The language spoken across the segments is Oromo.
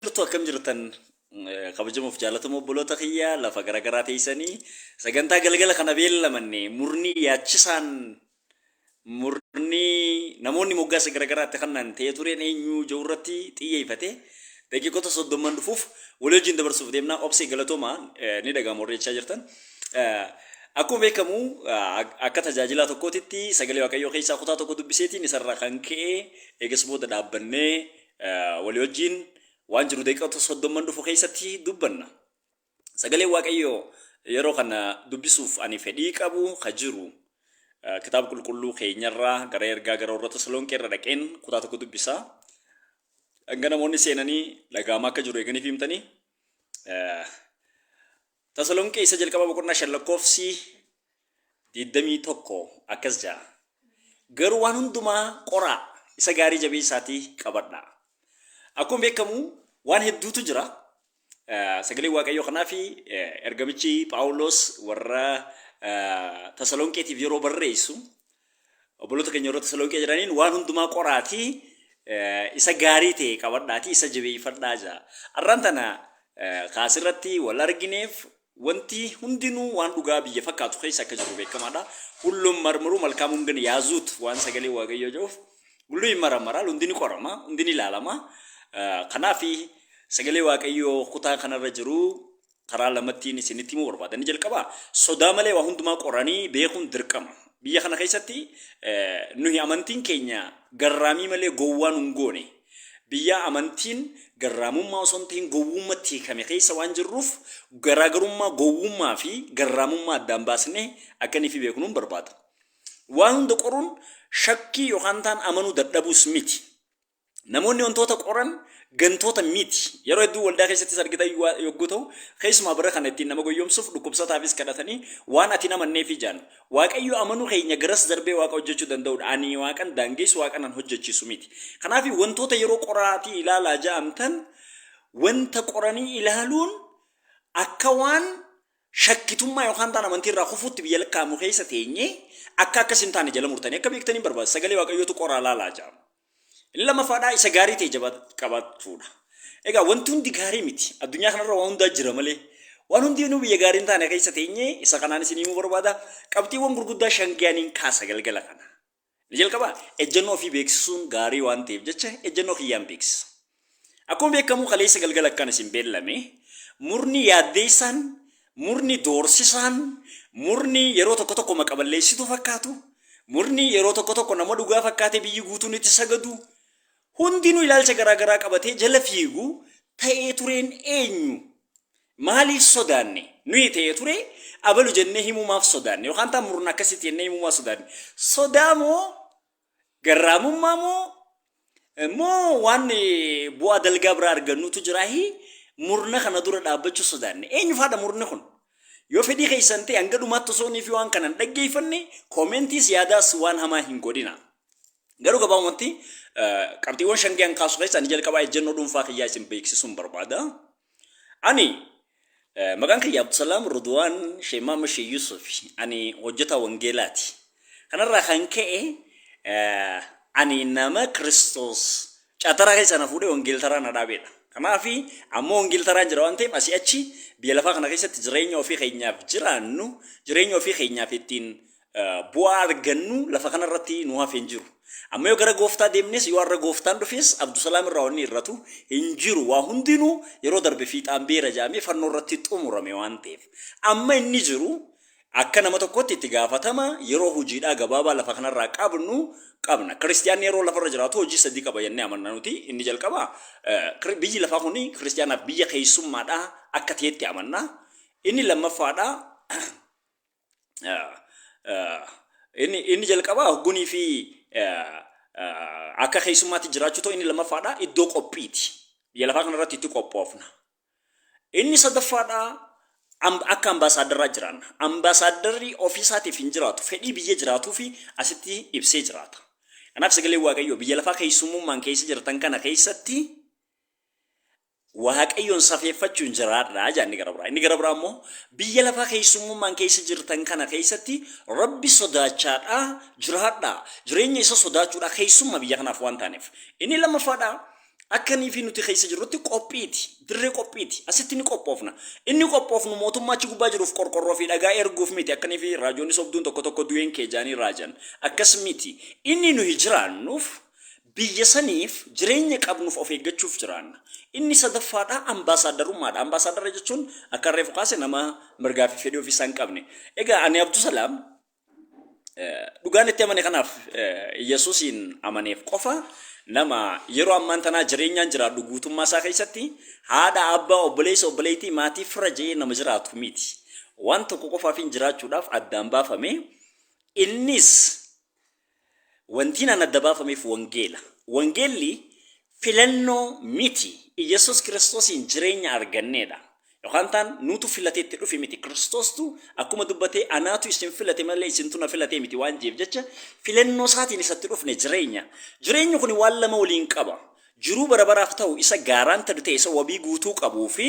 Jirtu akkam jirtan kabajamoof jaalatamoo obboloota kiyya lafa garaagaraa teessanii sagantaa galgala kana beellamanne murni yaachisaan murni namoonni moggaasa garaagaraatti kannaan ta'ee tureen eenyu jiru irratti xiyyeeffate daqiiqota soddomman dhufuuf walii wajjin dabarsuuf deemnaa obsee galatoomaa ni dhaga'ama warri jechaa jirtan. Akkuma beekamu akka tajaajilaa tokkootitti sagalee waaqayyoo keessaa kutaa tokko dubbiseetiin isarraa kan ka'e eegas booda dhaabbannee Walii wajjiin waan jiru daqiiqota soddomman dhufu keessatti dubbanna. Sagalee Waaqayyoo yeroo kana dubbisuuf ani fedhii qabu ka jiru kitaaba qulqulluu keenyarraa gara ergaa gara warra Tasalonqee irra dhaqeen kutaa tokko dubbisa. Hanga namoonni seenanii dhaga'amaa akka jiru eeganiif himtanii Tasalonqee Isa Jalqabaa boqonnaa 5 lakkoofsi 21 akkas jedha. Garuu waan hundumaa qoraa isa gaarii jabeessaatii qabadhaa. Akkuma beekamu waan hedduutu jira. Eh, Sagalee Waaqayyoo kanaa fi eh, ergamichi Phaawulos warra eh, Tasalonqeetiif yeroo barreessu Obboloota keenya warra Tasalonqee jiraniin waan hundumaa qoraatii eh, isa gaarii ta'e qabadhaatii isa jabeeffadhaa jaa. Arraan tana eh, kaasirratti wal argineef wanti hundinuu waan dhugaa biyya fakkaatu keessa akka jiru beekamaadha. Hulluun marmaruu malkaamuun gana yaazuut waan sagalee waaqayyoo jedhuuf hulluu hin maramaraa hundi ni qorama hundi ni ilaalama. Eh, Kanaaf sagalee waaqayyoo kutaa kanarra jiru Karaa lamattiin isinitti himuu barbaada. Inni jalqabaa sodaa malee waa hundumaa qoranii beekuun dirqama. Biyya kana keessatti nuyi amantiin keenya garraamii malee gowwaa nun goone. Biyya amantiin garraamummaa osoo hin ta'in gowwummatti hiikame keessa waan jirruuf garaagarummaa gowwummaa fi garraamummaa addaan baasnee akka inni fi beeknuun barbaada. Waan hunda qoruun shakkii yookaan taan amanuu dadhabuus miti. Namoonni wantoota qoran gantoota miti. Yeroo hedduu waldaa keessattis argitan yogguu ta'u, keessumaa bara kana ittiin nama goyyomsuuf dhukkubsataafis kadhatanii waan ati hin amanneefi jaan. Waaqayyo amanuu keenya garas darbee waaqa hojjechuu danda'udha. Ani waaqan daangeessu, waaqan an hojjechiisu miti. Kanaaf wantoota yeroo qoraatii ilaalaa ja'amtan wanta qoranii ilaaluun akka waan shakkitummaa yookaan taan amantii irraa kufuutti biyya lakkaa'amu keessa teenyee akka akkas hin taane jala murtanii akka beektaniin barbaada. Sagalee waaqayyootu qoraa laalaa ja'ama. Inni lammaffaadhaa isa gaarii ta'e qabaachuudha. Egaa wanti hundi gaarii miti. Addunyaa kanarra waan hundaa jira malee. Waan hundi nu biyya gaarii hin taane keessa teenye isa kanaan isin himuu barbaada. Qabxiiwwan gurguddaa shan ga'aniin kaasa galgala kana. Ni jalqabaa ejjennoo ofii beeksisuun gaarii waan ta'eef jecha ejjennoo kiyyaan beeksisa. Akkuma beekamu kaleessa galgala akkan isin beellame murni yaaddeessaan, murni doorsisaan, murni yeroo tokko tokko maqaballeessituu fakkaatu, murni yeroo tokko tokko nama dhugaa fakkaatee biyyi guutuun itti sagadu, hundinuu ilaalcha garaa garaa qabatee jala fiigu ta'ee tureen eenyu? Maaliif sodaanne? Nuyi ta'ee ture abalu jennee himuu maaf sodaanne? Yookaan taa murna akkasitti jennee himuu maaf sodaanne? Sodaa moo Garraamummaa moo moo waan bu'aa dalgaa biraa argannuutu jiraahi murna kana dura dhaabbachuu sodaanne. Eenyufaadha murni kun? Yoo fedhii keessan ta'e hanga dhumaatti osoo inni fi waan kana hin dhaggeeffanne koomentiis yaadaas waan hamaa hin godhina. Garuu gabaabumatti qabxiiwwan shan gahan kaasu keessa ani jalqabaa ejjennoo dhuunfaa kiyyaa isin beeksisuun barbaada. Ani eh, maqaan kiyya Abdusalaam Rudwaan Shee Maamma Shee Yuusuf ani hojjetaa wangeelaati. Kanarraa kan ka'e eh, ani nama Kiristoos caataraa keessaa na fuudhee wangeeltaraa na dhaabeedha. Kanaaf ammoo wangeeltaraan jira waan ta'eef asii achi biyya lafaa kana keessatti jireenya ofii keenyaaf jiraannu jireenya ofii keenyaaf ittiin Bu'aa argannu lafa kana irratti nu hafe hin jiru. Amma yoo gara gooftaa deemnes yoo har'a gooftaan dhufes Abdusalaam irraa wanni irratu hin jiru. Waa hundinuu yeroo darbe fiixaan beera jedhamee fannoo irratti xumurame waan ta'eef. Amma inni jiru akka nama tokkotti itti gaafatama yeroo hojiidhaa gabaabaa lafa kana irraa qabnu qabna. Kiristiyaanni yeroo lafa irra jiraatu hojii sadii qaba jennee amanna nuti. Inni jalqaba biyyi lafaa kun kiristiyaanaaf biyya keessummaadhaa akka ta'etti amanna. Inni lammaffaadhaa Inni jalqabaa hoggunii fi akka keessummaatti jiraachuu ta'u inni lammaffaadha iddoo qophiiti. Biyya lafaa kanarratti itti qophoofna. Inni sadaffaadha akka ambaasaaddaraa jiraanna. Ambaasaaddarri ofiisaatiif hin jiraatu. Fedhii biyya jiraatuu fi asitti ibsee jiraata. Kanaaf sagalee Waaqayyoo biyya lafaa keessummummaan keessa jirtan kana keessatti Waaqayyoon safeeffachuun jiraadhaa jedha inni gara biraa. Inni gara biraa immoo biyya lafaa keessummummaan keessa jirtan kana keessatti Rabbi sodaachaadhaa jiraadhaa. Jireenya isa sodaachuudhaa keessumma biyya kanaaf waan taaneef. Inni lammaffaadhaa akka nii fi nuti keessa jirrutti qophiiti. Dirree qophiiti. Asitti ni qophoofna. Inni qophoofnu mootummaa achi gubbaa jiruuf qorqorroo fi dhagaa erguuf miti akka nii fi raajoonni sobduun tokko tokko du'een kee jaanii raajan. Akkas miti. Inni nuyi jiraannuuf Biyya saniif jireenya qabnuuf of eeggachuuf jiraanna. Inni sadaffaadhaa ambaasaaddarummaadha. Ambaasaaddara jechuun akkan reefu kaase nama mirgaa fi fedhii ofiisaa hin qabne. Egaa ani Abdusalaam dhugaan itti amane kanaaf Yesuusiin amaneef qofa nama yeroo ammaan tanaa jireenyaan jiraadhu guutummaa isaa keessatti haadha, abbaa, obboleessa, obboleettii, maatii, fira je'ee nama jiraatu miti. Waan tokko qofaafin jiraachuudhaaf addaan baafame. Innis Wantiin an adda baafameef wangeela. Wangeelli filannoo miti. Iyyasuus Kiristoosiin jireenya arganneedha. Yookaan taan nuutu filatee itti dhufe miti. Kiristoostu akkuma dubbatee anaatu isin filate malee isintu na filatee miti waan jeef jecha filannoo isaatiin isa itti dhufne jireenya. Jireenyi kuni waan lama waliin qaba. Jiruu bara baraaf ta'u isa gaaraantadu ta'e isa wabii guutuu qabuu fi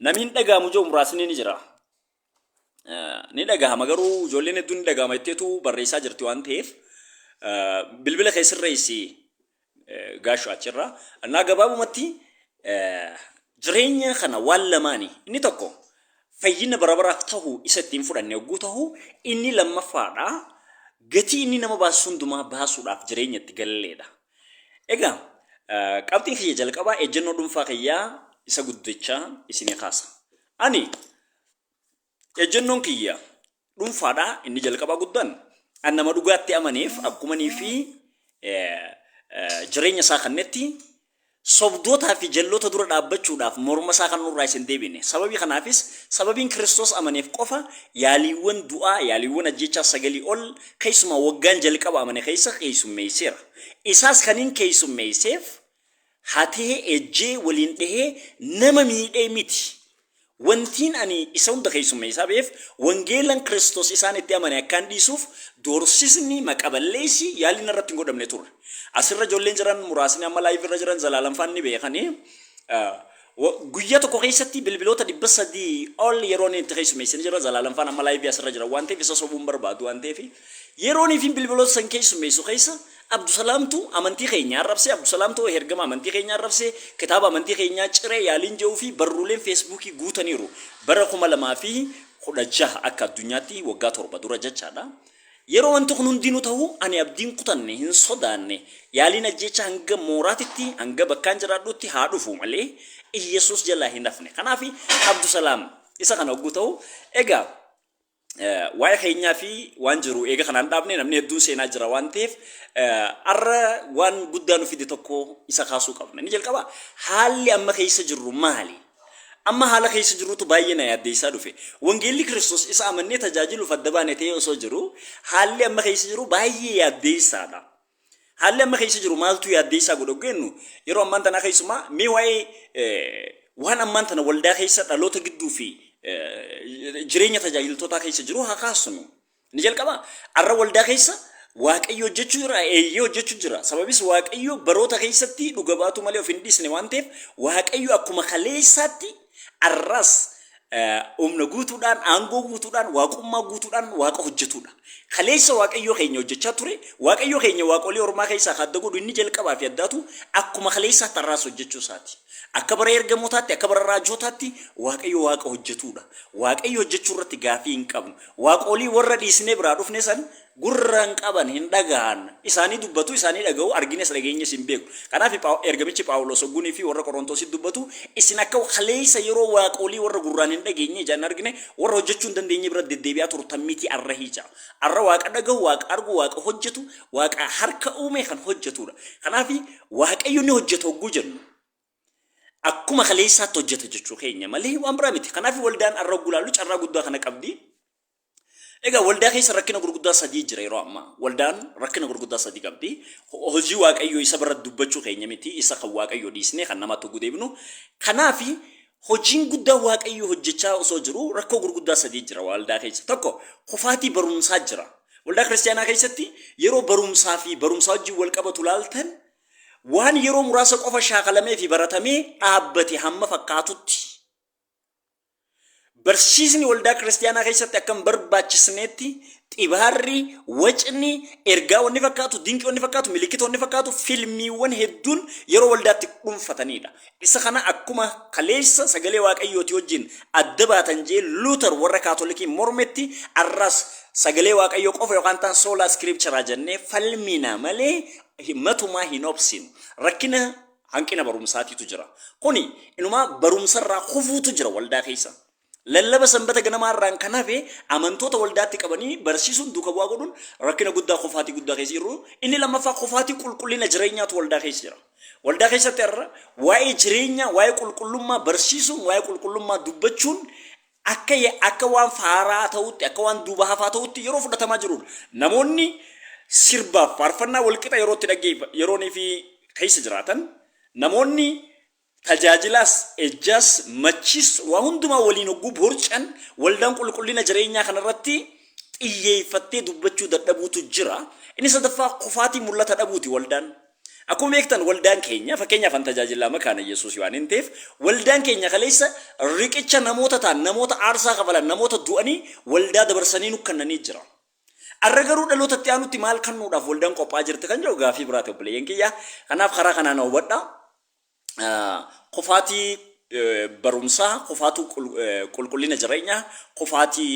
namiin dhagaamu jiru muraasni ni jira. ni dhagahama garuu ijoolleen hedduun ni dhagahama jetteetu barreessaa jirti waan ta'eef bilbila kee sirreessi gaashu achirraa. Annaa gabaabumatti jireenya kana waan lamaani inni tokko fayyina bara baraaf ta'u isa ittiin fudhanne yogguu ta'u inni lammaffaadha gatii inni nama baasu hundumaa baasuudhaaf jireenya itti galleedha. Egaa qabxiin kiyya jalqabaa ejjennoo dhuunfaa kiyyaa isa guddichaa isinii kaasa. Ani Ejjennoon kiyya dhuunfaadha inni jalqabaa guddaan an nama dhugaatti amaneef akkumanii fi jireenya isaa kannetti sobdootaa fi jalloota dura dhaabbachuudhaaf morma isaa kan nurraa isin deebine. Sababii kanaafis sababiin Kiristoos amaneef qofa yaaliiwwan du'aa, yaaliiwwan ajjechaa sagalii ol keessumaa waggaan jalqaba amane keessa keessummeesseera. Isaas kaniin keessummeesseef hatee, ejjee, waliin dhehee nama miidhee miti. Wantiin ani isa hunda keessummeessaa ba'eef wangeelan Kiristoos isaan itti amane akkaan dhiisuuf doorsisni, maqa-balleessi, yaalli narratti hin godhamne turre. Asirra ijoolleen jiran muraasni amma live irra jiran Zalaalamfaan ni beekani. Wo, guyya tokko keessatti bilbiloota 300 ol yeroon itti keessummeessine jirra. Zalaalam faan amma laayivii asirra jira waan ta'eef isa sobuu hin barbaadu waan ta'eef yeroon ifin bilbiloota san keessummeessu keessa Abdusalaamtu amantii keenya arrabse, Abdusalaamtu hergama amantii keenya arrabse, kitaaba amantii keenyaa cire yaaliin je'uu fi barruuleen feesbuukii guutaniiru. Bara 2016 akka addunyaatti waggaa torba dura jechaadha. Yeroo wanti kun hundinuu tahu ani abdii hin kutanne, hin sodaanne. Yaaliin ajjeechaa hanga mooraatitti, hanga bakkaan jiraadhutti haa dhufu malee Iyyesuus jalaa hin hafne. Kanaafi Abdusalaam isa kana hogguu tahu, egaa waa'ee keenyaa fi waan jiru eega kanaan dhaabne namni hedduun seenaa jira waan taheef arra waan guddaa nu fide tokko isa kaasuu qabna. Inni jalqabaa haalli amma keessa jirru maali? Amma haala keessa jirrutu baay'ee na yaaddeessaa dhufe. Wangeelli Kiristoos isa amannee tajaajiluuf adda baane ta'ee osoo jiru, haalli amma keessa jiru baay'ee yaaddeessaadha. Haalli amma keessa jiru maaltu yaaddeessaa godha jennu yeroo ammaan tanaa keessumaa mee waa'ee waan ammaan tana waldaa keessa dhaloota gidduu fi jireenya tajaajiltootaa keessa jiru haa kaasnu. Ni jalqabaa? Arra waldaa keessa Waaqayyo hojjechuu jira, eeyyee hojjechuu jira. Sababis Waaqayyo baroota keessatti dhuga baatuu malee of hin dhiisne waan ta'eef Waaqayyo akkuma kaleessaatti arras eh, humna guutuudhaan, aangoo guutuudhaan, waaqummaa guutuudhaan waaqa hojjetuudha. Kaleessa Waaqayyo keenya hojjechaa ture, Waaqayyo keenya waaqolii ormaa keessaa kan adda godhu inni jalqabaa fi addaatu akkuma kaleessaatti arraas hojjechuu isaati. Akka bara ergamootaatti, akka bara raajootaatti Waaqayyo waaqa hojjetuudha. Waaqayyo hojjechuu irratti gaafii hin qabnu. Waaqolii worra dhiisnee biraa dhufne san gurra hin qaban, hin dhagahan. Isaanii dubbatu, isaanii dhagahu, arginees dhageenyees hin beeknu. Kanaaf ergamichi Phaawuloos hogguu nifi worra Qorontositti dubbatu, isin akka kaleessa yeroo waaqolii worra gurraan hin dhageenye, ijaan hin argine, worra hojjachuu hin dandeenye bira deddeebi'aa turtan mitii arrahii ja'a. Arra Waaqa dhagahu, Waaqa argu, Waaqa hojjatu, Waaqa harka uume kan hojjatuudha. Kanaaf Waaqayyo ni hojjata hogguu jennu. akkuma kaleessaatti hojjeta jechuu keenya malee waan biraa miti. Kanaaf waldaan arra gulaallu carraa guddaa kana qabdi. Egaa waldaa keessa rakkina gurguddaa sadii jira yeroo ammaa. Waldaan rakkina gurguddaa sadii qabdi. Ho- Hojii waaqayyoo isa bira dubbachuu keenya miti. Isa kan waaqayyoo dhiisnee kan namaatti oguu deebinu. Kanaaf hojiin guddaa waaqayyoo hojjechaa osoo jiru rakkoo gurguddaa sadii jira waldaa keessa. Tokko kufaatii barumsaa jira. Waldaa kiristaanaa keessatti yeroo barumsaa fi barumsaa wajjin wal qabatu laaltan waan yeroo muraasa qofa shaakalamee fi baratamee dhaabbate hamma fakkaatutti barsiisni waldaa kiristaanaa keessatti akka hin barbaachisneetti xibaarri, wacni, ergaa wanni fakkaatu, dinqii wanni fakkaatu, milikkita wanni fakkaatu, filmiiwwan hedduun yeroo waldaatti dhuunfatanidha. Isa kana akkuma kaleessa sagalee waaqayyooti wajjin adda baatan jee Luuter warra kaatolikii mormetti arras sagalee waaqayyoo qofa yookaan ta'an soolaa iskiripcharaa jennee falmina malee matumaa hin obsinu. Rakkina hanqina barumsaatiitu jira. Kuni inumaa barumsarraa kufuutu jira waldaa keessa. Lallaba sanbata ganamaa irraan kan hafe amantoota waldaatti qabanii barsiisuun duuka bu'aa godhuun rakkina guddaa kufaatii guddaa keessa jirru. Inni lammaffaa kufaatii qulqullina jireenyaatu waldaa keessa jira. Waldaa keessatti har'a waa'ee jireenyaa, waa'ee qulqullummaa barsiisuun, waa'ee qulqullummaa dubbachuun akka ya, akka waan faaraa ta'utti, akka waan duuba hafaa ta'utti yeroo fudhatamaa jiruudha. Namoonni sirbaaf faarfannaa wal qixa yeroo itti dhaggeef, yeroonii fi keessa jiraatan, namoonni tajaajilaas, ejjaas, machiis waa hundumaa waliin hogguu borcan, waldaan qulqullina jireenyaa kana irratti xiyyeeffattee dubbachuu dadhabuutu jira. Inni sadaffaa kufaatii mul'ata dhabuuti waldaan. Akkuma beektan waldaan keenya fakkeenyaaf an tajaajilaa makaana Iyyasuusii waanin ta'eef waldaan keenya kaleessa riqicha namoota ta'an, namoota aarsaa kafalan, namoota du'anii waldaa dabarsanii nu kannanii jira. Arra garuu dhaloota itti aanutti maal kannuudhaaf waldaan qophaa'aa jirti kan jedhu gaaffii biraati obboleeyyan kiyya. Kanaaf karaa kanaa na hubadhaa. kufaatii barumsaa, kufaatuu qulqullina jireenyaa, kufaatii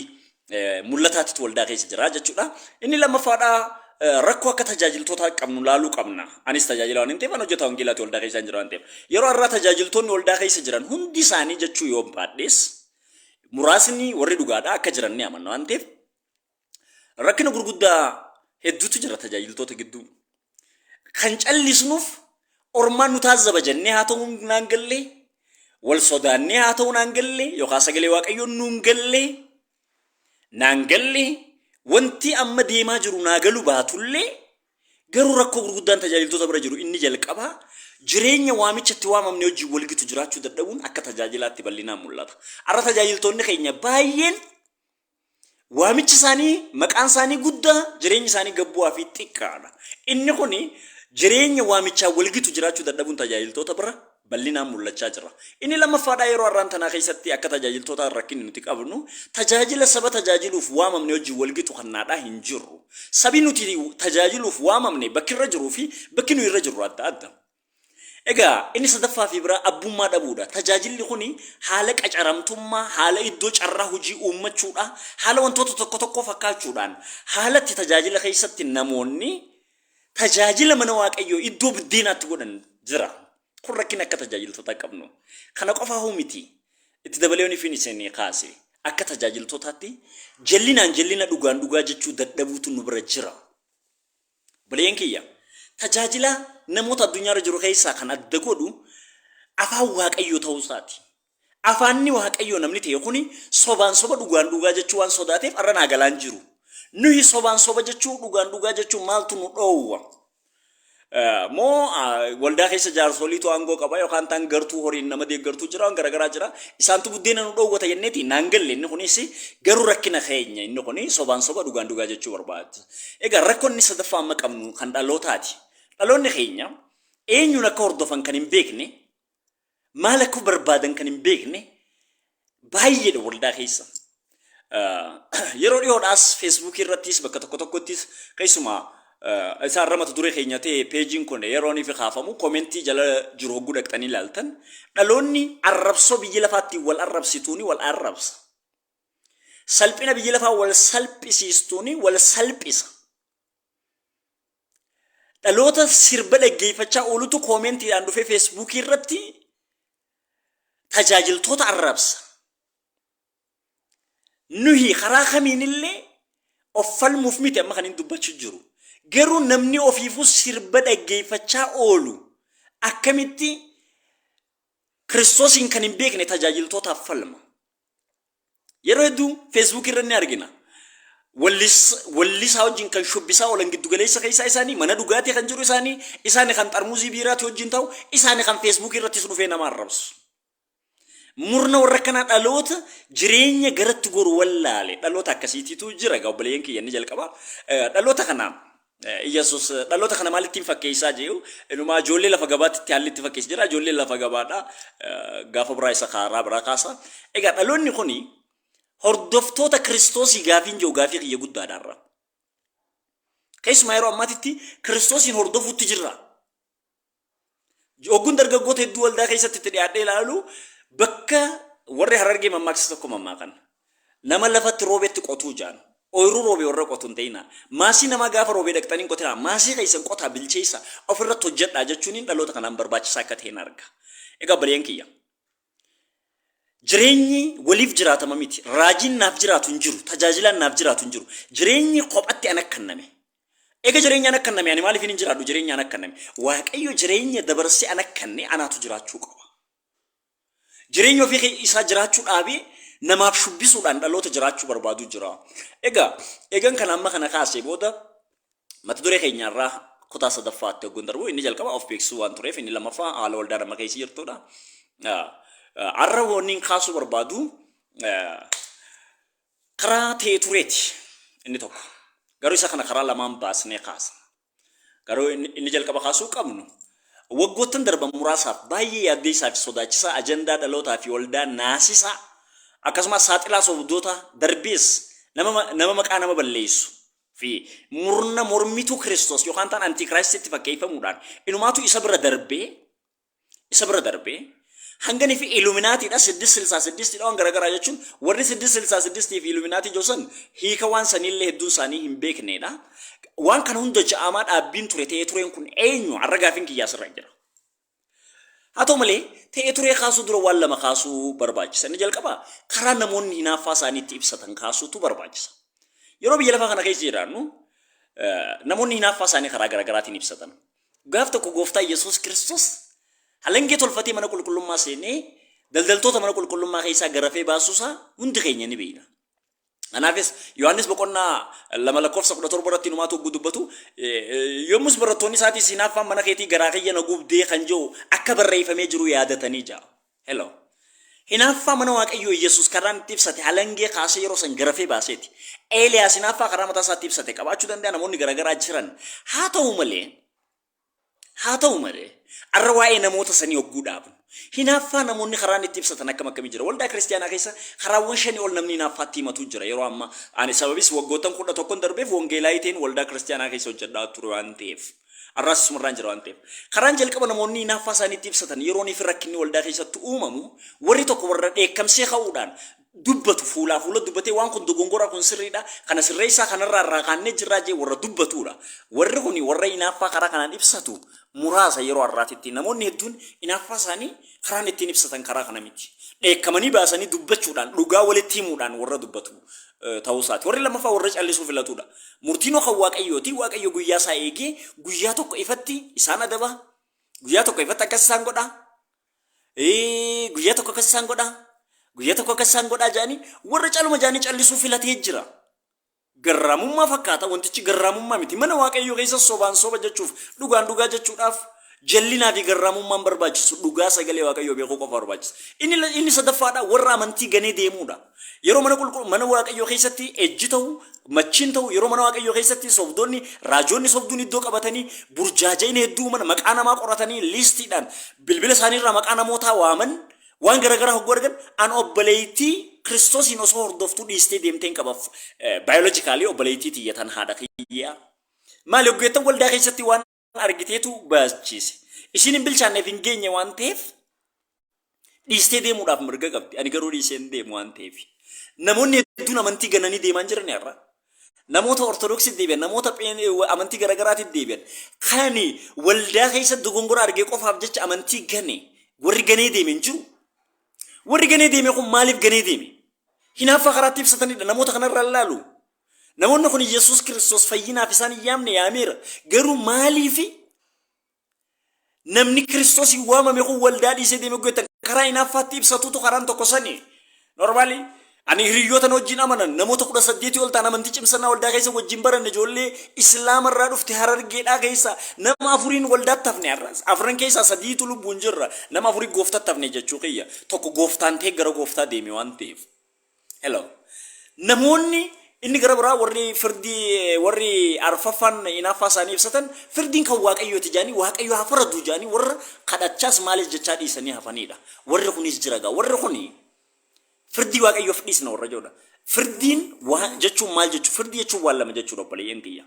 mul'ataatitu waldaa keessa jira jechuudha. Inni lammaffaadhaa rakkoo akka tajaajiltootaa qabnu laaluu qabna. Anis tajaajila waan hin ta'eef, an hojjetaa wangeelaati waldaa keessa hin jira waan ta'eef. Yeroo har'aa tajaajiltoonni waldaa keessa jiran hundi isaanii jechuu yoo hin baadhees, muraasni warri dhugaadhaa akka jiran ni amanna waan ta'eef, Rakkina gurguddaa hedduutu jira tajaajiltoota gidduu. Kan callisnuuf ormaan nu taazzaba jennee haa ta'uu naan gallee, wal sodaannee haa ta'uu naan gallee, yookaan sagalee waaqayyoon nuun gallee, naan gallee, wanti amma deemaa jiru naa galu baatullee, garuu rakkoo gurguddaan tajaajiltoota bira jiru inni jalqabaa jireenya waamichatti waamamne wajjin walgitu jiraachuu dadhabuun akka tajaajilaatti bal'inaan mul'ata. Har'a tajaajiltoonni keenya baay'een Waamichi isaanii, maqaan isaanii guddaa, jireenyi isaanii gabbu'aa fi xiqqaadha. Inni kun jireenya waamichaan walgitu jiraachuu dadhabuun tajaajiltoota bira bal'inaan mul'achaa jira. Inni lammaffaadhaa yeroo har'aan tanaa keessatti akka tajaajiltootaa rakkinni nuti qabnu tajaajila saba tajaajiluuf waamamne wajjin walgitu kannaadhaa hin jirru. Sabi nuti tajaajiluuf waamamne bakki irra jiruu fi bakki nuyi irra jirru adda adda. Egaa inni sadaffaa fi biraa abbummaa dhabuudha. Tajaajilli kun haala qacaramtummaa, haala iddoo carraa hojii uummachuudha, haala wantoota tokko tokkoo fakkaachuudhaan haala itti tajaajila keessatti namoonni tajaajila mana waaqayyoo iddoo biddeenaatti godhan jira. Kun rakkina akka tajaajiltootaa qabnu. Kana qofaa hoo miti. Itti dabalee waan ifin isin kaase akka tajaajiltootaatti jallinaan jallina dhugaan dhugaa jechuu dadhabuutu nu bira jira. Obboleeyyan kiyya, tajaajila namoota addunyaa irra jiru keessaa kan adda godhu Afaan Waaqayyoo ta'uu isaati. Afaanni Waaqayyoo namni ta'e kuni sobaan soba dhugaan dhugaa jechuu waan sodaateef arra naa galaan jiru. Nuhi sobaan soba jechuu dhugaan dhugaa jechuu maaltu nu dhoowwa? moo waldaa keessa jaarsoliitu aangoo qaba yookaan taan gartuu horiin nama deeggartuu jira waan garaagaraa jira isaantu buddeena nu dhoowwata jenneeti naan galle inni kunis garuu rakkina keenya inni kun sobaan soba dhugaan dhugaa jechuu barbaada. Egaa rakkoon inni sadaffaa amma qabnu kan dhalootaati. Dhaloonni keenya eenyuun akka hordofan kan hin beekne, maal akka barbaadan kan hin beekne baay'eedha waldaa keessa. Yeroo dhiyoodhaas feesbuukii irrattis bakka tokko tokkottis keessumaa isa irra mata duree keenya ta'e peejiin kun yeroo inni kaafamu koomentii jala jiru hogguu dhaqxanii ilaaltan dhaloonni arrabsoo biyya lafaatti wal arrabsituuni wal arrabsa. Salphina biyyi lafaa wal salphisiistuun wal salphisa. Dhaloota sirba dhaggeeffachaa oolutu koomentiidhaan dhufee feesbuukii irratti tajaajiltoota arrabsa. Nuhi karaa kamiinillee of falmuuf miti amma kan hin dubbachuu jiru. Garuu namni ofiifuu sirba dhaggeeffachaa oolu akkamitti Kiristoosiin kan hin beekne tajaajiltootaaf falma. Yeroo hedduu feesbuukii irra ni argina. Wallisaa wajjin kan shubbisaa oolan giddugaleessa keessaa isaanii, mana dhugaatii kan jiru isaanii, isaani kan xarmuuzii biiraati wajjin ta'u, isaani kan feesbuukii irrattis dhufee nama arrabsu. Murna warra kanaa dhaloota jireenya garatti goru wallaale. Dhaloota akkasiitiitu jira egaa obboleeyyan kiyya inni jalqabaa. Dhaloota kana Iyyasuus dhaloota kana maalittiin fakkeessaa je'u inumaa ijoollee lafa gabaatitti haalli itti fakkeessi jira ijoolleen lafa gabaadha gaafa biraa isa kaaraa biraa kaasa egaa dhaloonni kuni hordoftoota kiristoosii gaafiin je'u gaafii kiyya guddaadha irra keessumaa yeroo ammaatitti kiristoosiin hordofuutti jirra Ogguun dargaggoota hedduu waldaa keessatti itti dhiyaadhee ilaalu bakka warri harargee mammaaksa tokko mammaakan. Nama lafatti roobetti qotuu jaan. Ooyiruu roobee warra qotu hin ta'ina. Maasii namaa gaafa roobee dhaqxanii hin qotinaa. Maasii keessan qotaa bilcheessa ofirratti hojjedhaa jechuun dhaloota kanaan barbaachisaa akka ta'e hin arga. Egaa baleen kiyya. Jireenyi waliif jiraatama miti. Raajiin naaf jiraatu hin jiru. Tajaajilaan naaf jiraatu hin jiru. Jireenyi kophatti anaf kanname. Ega jireenya anaf kanname ani maaliifin hin jiraadhu jireenya anaf kanname. Waaqayyo jireenya dabarsee anaf kanne anaatu jiraachuu qaba. Jireenya ofii kee isaa jiraachuu dhaabee namaaf shubbisuudhaan dhaloota jiraachuu barbaadu jira. Egaa eegan kana amma kana kaasee booda Mata duree keenya irraa kutaa sadaffaatti hogguun darbu inni jalqaba of beeksisuu waan tureef inni lammaffaa haala waldaan amma keessa jirtudha. Har'a wanniin kaasuu barbaadu karaa ta'e tureeti inni tokko. Garuu isa kana karaa lamaan baasnee kaasa. Garuu inni jalqaba kaasuu qabnu waggoottan darban muraasaaf baay'ee yaaddeessaa fi sodaachisaa ajandaa dhalootaa fi waldaa naasisaa akkasumas saaxilaa sobdoota darbees nama maqaa nama balleessu fi murna mormituu Kiristoos yookaan ta'an Antiikiraayistitti fakkeeffamuudhaan inumaatu isa bira darbee isa bira darbee hanganii fi iluminaatiidha siddis silsaa siddistiidha waan garaagaraa jechuun warri siddis silsaa siddistii fi iluminaatii joosan hiika waan saniillee hedduun isaanii hin beekneedha. Waan kana hunda ja'amaa dhaabbiin ture ta'ee tureen kun eenyu har'a gaafiin kiyyaa sirra jira. Haa ta'u malee, ta'ee turee kaasuu dura waan lama kaasuu barbaachisa. Inni jalqabaa karaa namoonni hinaaffaa isaanii itti ibsatan kaasuutu barbaachisa. Yeroo biyya lafaa kana keessa jiraannu namoonni hinaaffaa isaanii karaa garaagaraatiin ibsatan. Gaaf tokko gooftaa Yesuus Kiristoos halangee tolfatee mana qulqullummaa seenee daldaltoota mana qulqullummaa keessaa garafee baasuusaa hundi keenya ni beekna. Kanaafis Yohaannis boqonnaa 2 lakkoofsa 17 irratti inumaatu hogguu dubbatu yommus barattoonni isaatis hinaaffaan mana keetii garaa kiyya na gubdee kan jiru akka barreeffamee jiru yaadatanii ja'a. Hello. Hinaaffaa mana Waaqayyoo Yesuus karaan itti ibsate halangee kaasee yeroo san garafee baaseeti. Eeliyaas hinaaffaa karaa mataa isaatti ibsate qabaachuu danda'a namoonni garaagaraa jiran. Haa ta'u malee Haa ta'u malee, har'a waa'ee namoota sanii hogguu dhaabnu, hinaaffaa namoonni karaan itti ibsatan akkam akkamii jira? Waldaa Kiristiyaanaa keessa karaawwan shanii ol namni hinaaffaatti himatu jira. Yeroo ammaa, ani sababis waggoottan 11n darbeef wongeelaayii ta'een waldaa Kiristiyaanaa keessa hojjedhaa ture waan ta'eef, har'aas isumarraan jira waan ta'eef. Karaan jalqaba namoonni hinaaffaa isaanii itti ibsatan, yeroonii fi rakkinni waldaa keessatti uumamu, warri tokko warra dheekkamsee ka'uudhaan dubbatu fuulaa fuula dubbatee waan kun dogongoraa kun sirriidha kana sirreessaa kanarraa irraa kaannee jirraa jee warra dubbatuudha. Warri kuni warra inaaffaa karaa kanaan ibsatu muraasa yeroo har'aatitti. Namoonni hedduun inaaffaa isaanii karaan ittiin ibsatan karaa kana miti. Dheekkamanii baasanii dubbachuudhaan dhugaa walitti himuudhaan warra dubbatu ta'uu isaati. Warri lammaffaa warra callisuu filatuudha. Murtiinoo kan waaqayyooti. Waaqayyo guyyaa isaa eegee guyyaa tokko ifatti isaan adaba. Guyyaa tokko ifatti akkas isaan godha. Ee, guyyaa tokko akkas isaan godhaa guyyaa tokko akkas isaan godhaa jedhanii warra caluma jedhanii callisuu filatee jira. Garraamummaa fakkaata wantichi garraamummaa miti mana waaqayyoo keessa sobaan soba jechuuf dhugaan dhugaa jechuudhaaf jallinaa fi garraamummaan barbaachisu dhugaa sagalee waaqayyoo beekuu qofa barbaachisa. Inni inni sadaffaadha warra amantii ganee deemuudha. Yeroo mana qulqul mana Waaqayyoo keessatti ejji ta'u, machiin ta'u, yeroo mana Waaqayyoo keessatti sobdoonni, raajoonni sobduun iddoo qabatanii burjaaja'ina hedduu uuman, maqaa namaa qoratanii liistiidhaan bilbila isaanii irraa maqaa namootaa waaman, waan gara garaa hogguu argan, an obboleettii Kiristoosiin osoo hordoftuu dhiistee deemteen qaba. Baayolojikaalii obboleettii tiyya tan haadha kiyyaa. Maali hoggeettan waldaa keessatti waan argiteetu baachiise. Ishiin hin bilchaanneef hin geenye waan ta'eef dhiistee deemuudhaaf mirga qabdi. Ani garuu dhiisee hin deemu waan ta'eef. Namoonni hedduun amantii gananii deemaa hin jiran har'a. Namoota Ortodoksii deebi'an, namoota pheen- amantii garaagaraatti deebi'an. Kan waldaa keessa dogongora argee qofaaf jecha amantii gane warri ganee deeme hin jiru. Warri ganee deeme kun maaliif ganee deeme? Hinaaffaa karaatti ibsatanidha. Namoota kanarraa ilaalu. Namoonni kun Yesuus Kiristoos fayyinaaf isaan hin yaamne yaameera. Garuu maaliifi namni Kiristoos hin waamame kun waldaa dhiisee deemee goetan karaa hinaaffaatti ibsatuutu karaan tokko sani. Normaali ani hiriyyootan wajjin amanan namoota kudha saddeetii ol ta'an amantii cimsannaa waldaa keessa wajjin baranne ijoollee islaama irraa dhufte harargeedhaa keessa nama afuriin waldaatti hafne har'as. Afran keessaa sadiitu lubbuun jirra nama afurii gooftatti hafne jechuu kiyya. Tokko gooftaan ta'e gara gooftaa deeme waan ta'eef. Hello. Namoonni inni gara biraa warri firdii eh, warri arfaffaan inaaffaa isaanii ibsatan firdiin kan waaqayyooti jedhanii waaqayyo haa faraduu jedhanii warra kadhachaas maalis jechaa dhiisanii hafaniidha. Warri kunis jira gaa warri kuni firdii waaqayyoof dhiisna warra jechuudha. Firdiin waa jechuun maal jechuudha? Firdii jechuun waan lama jechuudha obboleeyyan kiyya.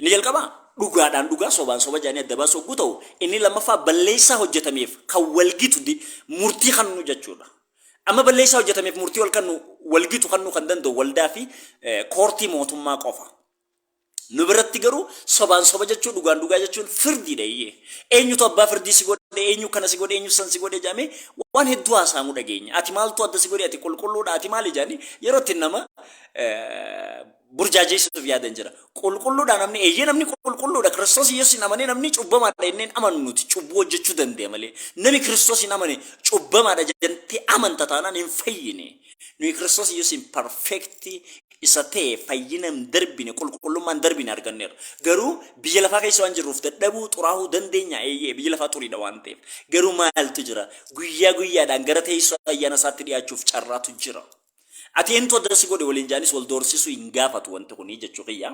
Inni jalqabaa dhugaadhaan dhugaa, sobaan soba jedhanii adda baasu yogguu ta'u, inni lammaffaa balleessaa hojjetameef kan wal gitu di, murtii kannu jechuu dha. Amma balleessaa hojjetameef murtii wal kannu, wal gitu kannuu kan danda'u waldaa fi eh, koortii mootummaa qofa. Nu biratti garuu sobaan soba jechuu dhugaan dhugaa jechuun firdiidha iyyee. Eenyutu abbaa firdii si godhe, eenyu kana si godhe, eenyu san si godhe jedhamee waan hedduu haasa'amu dhageenya. Ati maaltu adda si godhe, ati qulqulluudha, ati maali jedhanii yeroo itti nama eh, burjaajeessuuf yaadan jira. Qulqulluudhaa namni eeyyee namni qulqulluudha Kiristoos Yesuusiin amanee namni cubbamaadha jenneen amannu nuti cubbuu hojjechuu danda'a malee nami Kiristoosiin amane cubbamaadha jettee amanta taanaan hin fayyine. Nuyi Kiristoos Yesuusiin perfeektii isa ta'e fayyina hin darbine qulqullummaa hin darbine arganneerra. Garuu biyya lafaa keessa waan jirruuf dadhabuu xuraahuu dandeenya eeyyee biyyi lafaa xuriidha waan ta'eef. Garuu maaltu jira? Guyyaa guyyaadhaan gara teessoo ayyaana isaatti dhiyaachuuf carraatu jira. Ati eenyutu adda si godhe waliin jaanis wal doorsisuu hin gaafatu wanti kuni jechuu kiyya.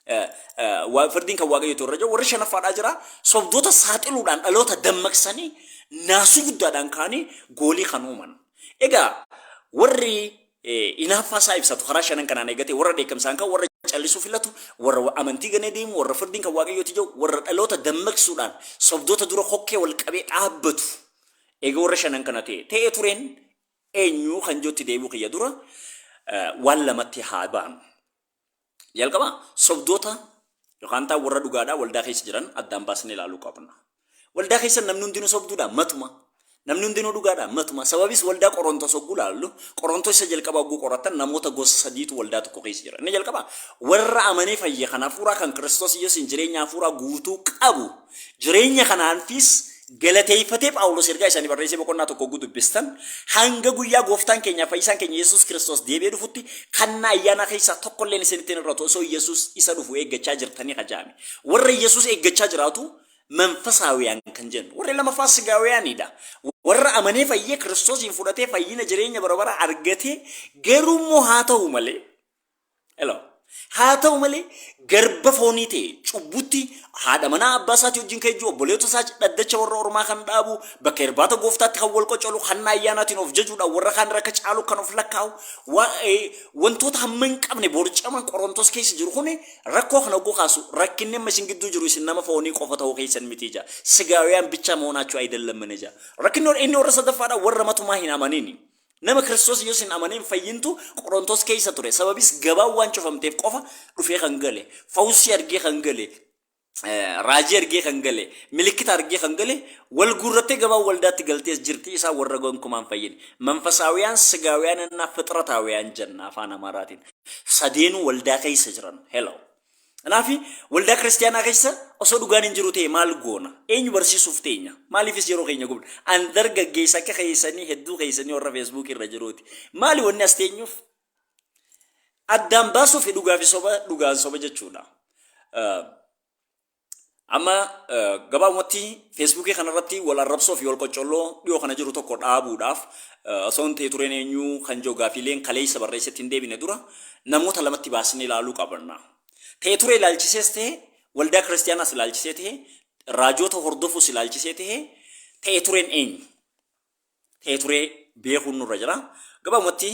Eh, eh, wa- Firdiin kan waaqayyootu irra jiru warri shanaffaadhaa jira sobdoota saaxiluudhaan dhaloota dammaqsanii naasuu guddaadhaan kaanii goolii kan uuman. Egaa warri eh, hinaaffaa isaa ibsatu karaa shanan kanaan eegatee warra dheekkamsaan kan warra callisuu filatu warra wa- amantii ganee deemu warra firdiin kan waaqayyooti jiru warra dhaloota dammaqsuudhaan sobdoota dura kokkee wal qabee dhaabbatu. Egaa warra shanan kana ta'e ta'ee tureen eenyu kan jootti deebi'u kiyya dura waan lamatti haa baanu. Jalqaba sobdoota yookaan taa warra dhugaadhaa waldaa keessa jiran addaan baasnee ilaaluu qabna. Waldaa keessa namni hundinuu sobduudhaa matuma. Namni hundinuu dhugaadhaa matuma. Sababis waldaa Qorontos hogguu laallu Qorontos isa jalqaba hogguu qoratan namoota gosa sadiitu waldaa tokko keessa jira. Inni jalqaba warra amanee fayye kan hafuuraa kan Kiristoos Yesuusiin jireenya hafuuraa guutuu qabu Jireenya kanaanfiis galateeffatee Phaawulos ergaa isaanii barreessee boqonnaa tokko oguu dubbistan hanga guyyaa gooftaan keenyaa fayyisaan keenya Yesuus Kiristoos deebi'ee dhufutti kannaa ayyaanaa keessaa tokkolleen isinitti hin irratu osoo Yesuus isa dhufu eeggachaa jirtanii kajaame. Warra Yesuus eeggachaa jiraatu manfasaawiyaan kan jennu. Warri lamaffaa sigaawiyaaniidha. Warra amanee fayyee Kiristoosiin fudhatee fayyina jireenya bara baraa argatee garuu immoo haa ta'u malee Hello. Haa ta'u malee garba foonii ta'e cubbutti haadha manaa abbaa isaatii wajjin kan ejju obboleewwata isaa dhaddacha warra ormaa kan dhaabu bakka irbaata gooftaatti kan wal qocolu hanna ayyaanaatiin of jajuudhaan warra kaan irra akka caalu kan of lakkaa'u wa- eh, wantoota hamma hin qabne borcaman qorontos keessa jiru kun rakkoo kana oguu kaasu rakkinni amma isin gidduu jiru isin nama foonii qofa ta'uu keessan miti ija sigaawiyaan bichaa moonaachuu ayidallamman ija rakkinni inni warra sadaffaadha warra matumaa hin amaniini. Nama Kiristoos Yesuus hin amaneen fayyintu Qorontos keessa ture. Sababis gabaan waan cufamteef qofa dhufee kan gale, fawusii argee kan gale, raajii argee kan gale, milikkita argee kan gale, wal guurrattee gabaan waldaatti galtees jirti, isaa warra gonkumaan fayyine. Manfasaawiyaan, sigaawiyaan, annaa fixrataawiyaan jenna afaan Amaaraatiin. Sadeenuu waldaa keessa jiran. Hello. Kanaaf waldaa kiristaanaa keessa osoo dhugaan hin jiru ta'e maal goona? Eenyu barsiisuuf teenya? Maaliifis yeroo keenya gubna? An dargaggeessa akka keessanii hedduu keessanii warra feesbuukii irra jiruuti. Maali wanni as teenyuuf? Addaan baasuuf dhugaa fi soba dhugaan soba jechuudha. Amma gabaabumatti feesbuukii kanarratti wal arrabsoo fi wal qoccolloo dhiyoo kana jiru tokko dhaabuudhaaf osoo hin ta'e tureen eenyu kan jiru gaafiileen kaleessa barreessetti hin deebine dura namoota lamatti baasnee ilaaluu qabna. Ta'e turee ilaalchisees ta'e waldaa kiristiyaanaas ilaalchisee ta'e raajoota hordofuus ilaalchisee ta'e ta'e tureen eenyu? ta'ee turee beekuun nurra jira. Gabaabumatti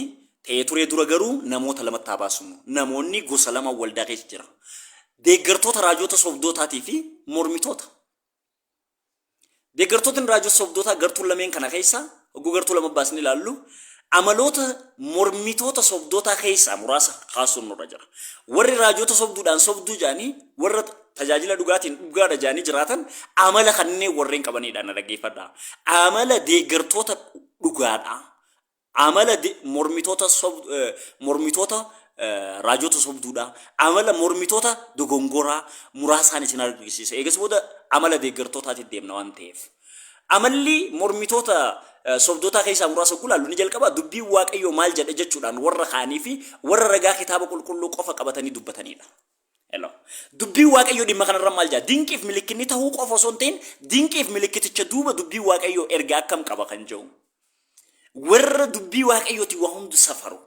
ta'ee turee dura garuu namoota lamatti haa baasnu. Namoonni gosa lama waldaa keessa jira. Deeggartoota raajoota sobdootaatii fi mormitoota. Deeggartootni raajoota sobdootaa gartuu lameen kana keessa hogguu gartuu lama baasnee ilaallu amaloota mormitoota sobdootaa keessaa muraasa kaasuun nurra jira. Warri raajoota sobduudhaan sobduu jedhanii warra tajaajila dhugaatiin dhugaadha jaanii jiraatan amala kanneen warreen qabaniidha na dhaggeeffadha. Amala deeggartoota dhugaadha. Amala de- mormitoota sob- eh, mormitoota eh, raajota sobduudha. Amala mormitoota dogongoraa muraasaan isin argisiisa. Eegas booda amala deeggartootaatti deemna waan ta'eef. Amalli mormitoota eh, sobdootaa keessaa muraasa kun ilaallu ni jalqaba dubbiin waaqayyoo maal jedha jechuudhaan warra kaanii fi warra ragaa kitaaba qulqulluu qofa qabatanii dubbatanidha. L. Dubbiin Waaqayyoo dhimma kanarra maal jedha? Dinqiif milikkinni tahuu qofa osoo hin ta'in, dinqiif milikkiticha duuba dubbiin Waaqayyoo ergaa akkam qaba kan jedhu. Warra dubbii Waaqayyooti waa hundu safaru.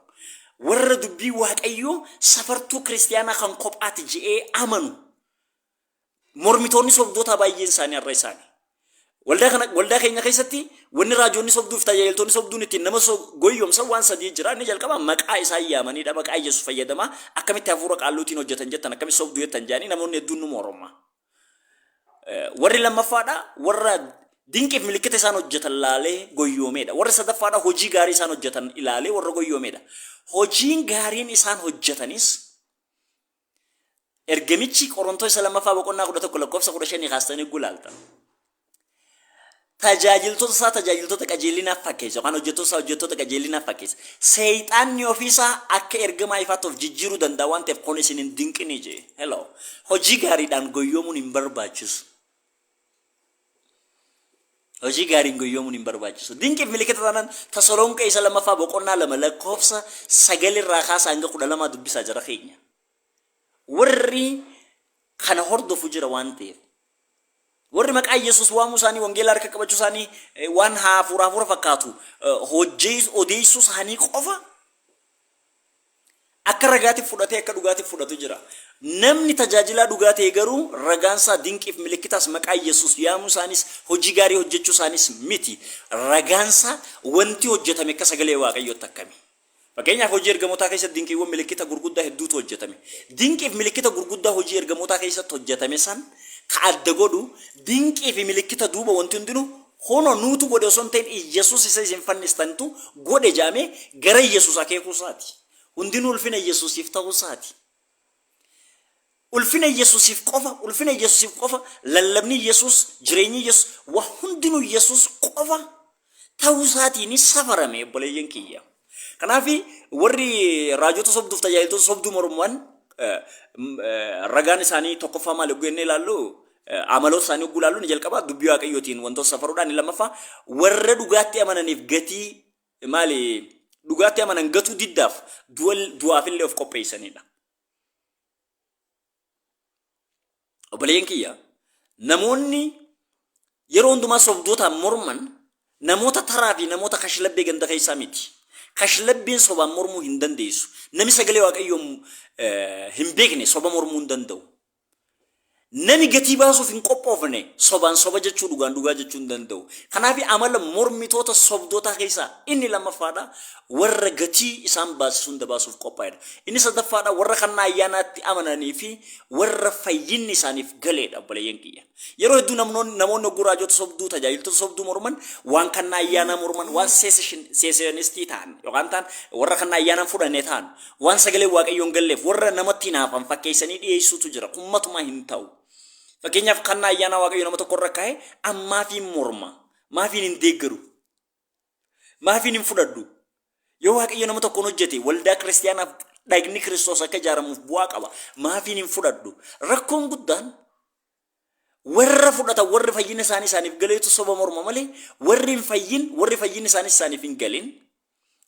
Warra dubbii Waaqayyoo safartuu kiristiyaanaa kan kophaati je'ee amanu. mormitoonni sobdootaa baay'een isaanii har'a isaanii. Waldaa kana waldaa keenya keessatti wanni raajoonni sobduu fi tajaajiltoonni sobduun ittiin nama so- goyyomsan waan sadii jira. Inni jalqaba maqaa isaa yaamanidha. Maqaa Yesuus fayyadamaa akkamitti hafuura qaalluutiin hojjetan jettan akkamitti sobduu jettan jedhanii namoonni hedduun nu morma. Eh, Warri lammaffaadha warra dinqiif milikkita isaan hojjetan laalee goyyoomeedha. Warri sadaffaadha hojii gaarii isaan hojjetan ilaalee warra goyyoomeedha. Hojiin gaariin isaan hojjetanis Ergamichi Qorontoo isa lammaffaa boqonnaa 11 lakkoofsa 15 kaastanii eeguu ilaaltan. Tajaajiltoota isaa tajaajiltoota qajeelinaaf fakkeessa yookaan hojjettoota isaa hojjettoota qajeelinaaf fakkeessa. Seexaanni ofii isaa akka ergamaa ifaatti of jijjiiruu danda'a waan ta'eef kun isin hin dinqinii jee. Hello. Hojii gaariidhaan goyyoomuun hin barbaachisu. Hojii gaariin goyyoomuun hin barbaachisu. Dinqiif milikita taanaan Tasalonqee isa lammaffaa boqonnaa lama lakkoofsa sagal irraa kaasa hanga kudha lamaa dubbisaa jara keenya. Warri kana hordofu jira waan ta'eef. Warri maqaa Yesuus waamuu isaanii wangeela harka qabachuu isaanii eh, waan hafuura hafuura fakkaatu eh, hojjees- odeessuu isaanii qofa Akka ragaatiif fudhatee akka dhugaatiif fudhatu jira. Namni tajaajilaa dhugaa ta'e garuu ragaan isaa dinqiif milikkitaas maqaa Yesuus yaamuu isaaniis hojii gaarii hojjechuu isaaniis miti. Ragaan isaa wanti hojjetame akka sagalee Waaqayyootti akkami? Fakkeenyaaf hojii ergamotaa keessatti dinqiiwwan milikkita gurguddaa hedduutu hojjetame. Dinqiif milikkita gurguddaa hojii ergamootaa keessatti hojjetame san ka adda godhu dinqii fi milikkita duuba wanti hundinuu Kunoo nuutu godhe osoo hin ta'in Iyyasuus isa isin fannistanitu godhe jedhamee gara Iyyasuus akeekuu isaati. Hundinuu ulfina Iyyasuusiif ta'uu isaati. Ulfina Iyyasuusiif qofa, ulfina Iyyasuusiif qofa, lallabni Iyyasuus, jireenyi Iyyasuus, waa hundinuu Iyyasuus qofa ta'uu isaatiini safarame obboleeyyan kiyya. Kanaaf warri raajota sobduuf tajaajiltoota sobduu morman eh, m- eh, ragaan isaanii tokkoffaa maal yogguu jennee ilaallu eh, amaloota isaanii yogguu ilaallu ni jalqaba dubbii waaqayyootiin wantoota safaruudhaan ni lammaffaa warra dhugaatti amananiif gatii maali dhugaatti amanan gatuu diddaaf du'a- du'aafillee of qopheessanidha. Obboleeyyan kiyya namoonni yeroo hundumaa sobdootaan morman namoota taraa fi namoota kashlabbee ganda keessaa miti. Kashlabbeen sobaan mormuu hin dandeessu. Nami sagalee waaqayyoon eh, hin beekne soba mormuu hin danda'u. Nami gatii baasuuf hin qophoofne sobaan soba jechuu dhugaan dhugaa jechuu hin danda'u. Kanaaf amala mormitoota sobdootaa keessaa inni lammaffaadha. warra gatii isaan baasisu hunda baasuuf qophaa'edha. Inni sadaffaadha warra kannaa ayyaanaatti amananii fi warra fayyinni isaaniif galeedha obboleeyyan kiyya. Yeroo hedduu namnoon- namoonni hogguu raajota sobduu, tajaajiltoota sobduu morman waan kannaa ayyaanaa morman, waan seeseshin- seesenistii ta'an yookaan ta'an warra kannaa ayyaanaan fudhanne ta'an, waan sagaleen Waaqayyoo hin galleef warra namatti hinaafan fakkeessanii dhiyeessuutu jira. Kun matumaa hin ta'u. Fakkeenyaaf kannaa ayyaanaa Waaqayyo nama tokko irra kaa'e an maafiin morma? Maafiin hin deeggaru? Maafiin hin fudhadhu. Yoo Waaqayyo nama tokkoon hojjete waldaa kiristaanaaf dhagni Kiristoos akka ijaaramuuf bu'aa qaba. Maafiin hin fudhadhu. Rakkoon guddaan warra fudhatan warri fayyina isaanii isaaniif galeetu soba morma malee warri hin fayyin warri fayyinni isaaniis isaaniif hin galin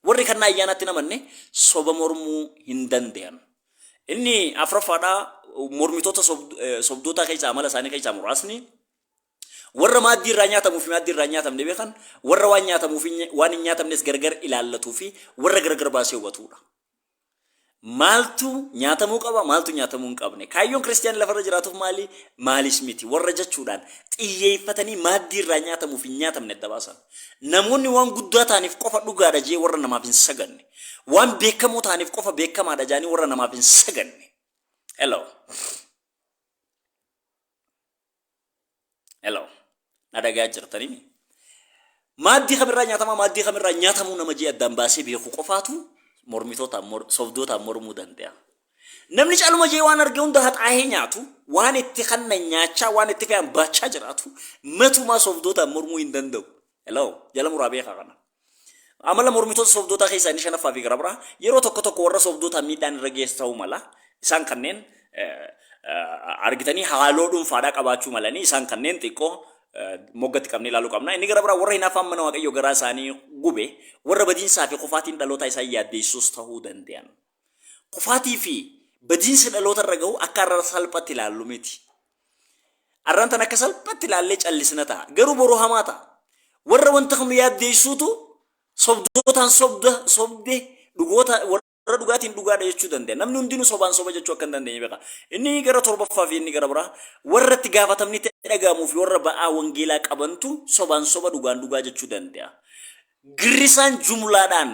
warri kannaa ayyaanaatti namanne soba mormuu hin danda'an. Inni afraffaadhaa mormitoota sobdootaa keessaa amala isaanii keessaa muraasni Warra maaddii irraa nyaatamuu fi maaddii irraa hin nyaatamne beekan, warra waan nyaatamuu fi waan hin nyaatamnes gargar ilaallatuu fi warra gargar baasee hubatuu dha. Maaltu nyaatamuu qaba, maaltu nyaatamuu hin qabne? Kaayyoon Kiristiyaanni lafarra jiraatuuf maali, maalis miti? Warra jechuudhaan xiyyeeffatanii maaddii irraa nyaatamuu fi hin nyaatamne adda baasan. Namoonni waan guddaa ta'aniif qofa dhugaa dha jedhee warra namaaf hin sagadne. Waan beekamoo ta'aniif qofa beekamaa dha jedhanii warra namaaf hin sagadne. Hello. Hello. Na dhagaa jirtanii mi? Maaddii kamirraa nyaatamaa maaddii kamirraa nyaatamuu nama jee addaan baasee beeku qofaatu mormitootaan mor sobdootaan mormuu danda'a. Namni caluma jee waan arge hunda haxaahee nyaatu waan itti kanna nyaachaa waan itti fe'an baachaa jiraatu matumaa sobdootaan mormuu hin danda'u. Hello, jala muraa beekaa kana. Amala mormitoota sobdootaa keessaa inni shanaffaa fi gara biraa yeroo tokko tokko warra sobdootaa miidhaan irra geessu ta'uu mala. Isaan kanneen argitanii haaloo dhuunfaadhaa qabaachuu malanii isaan kanneen xiqqoo moggatti qabnee ilaaluu qabna. Inni gara biraa warra hinaaffaan mana waaqayyoo garaa isaanii gube warra badiinsaa fi kufaatiin dhalootaa isaan yaaddeessuus ta'uu danda'an. Kufaatii fi badiinsa dhaloota irra gahu akka arrara salphatti ilaallu miti. Arran tan akka salphatti ilaallee callisna ta'a. Garuu boru hamaa ta'a. Warra wanta kan nu yaaddeessuutu sobdootaan sobda sobde dhugoota warra dhugaatiin dhugaadha jechuu danda'a. Namni hundinuu sobaan soba jechuu akka hin dandeenye beeka. Inni gara torbaffaa fi inni gara biraa warra itti gaafatamni itti dhaga'amuu fi warra ba'aa wangeelaa qabantu sobaan soba dhugaan dhugaa jechuu danda'a. Girrisaan jumlaadhaan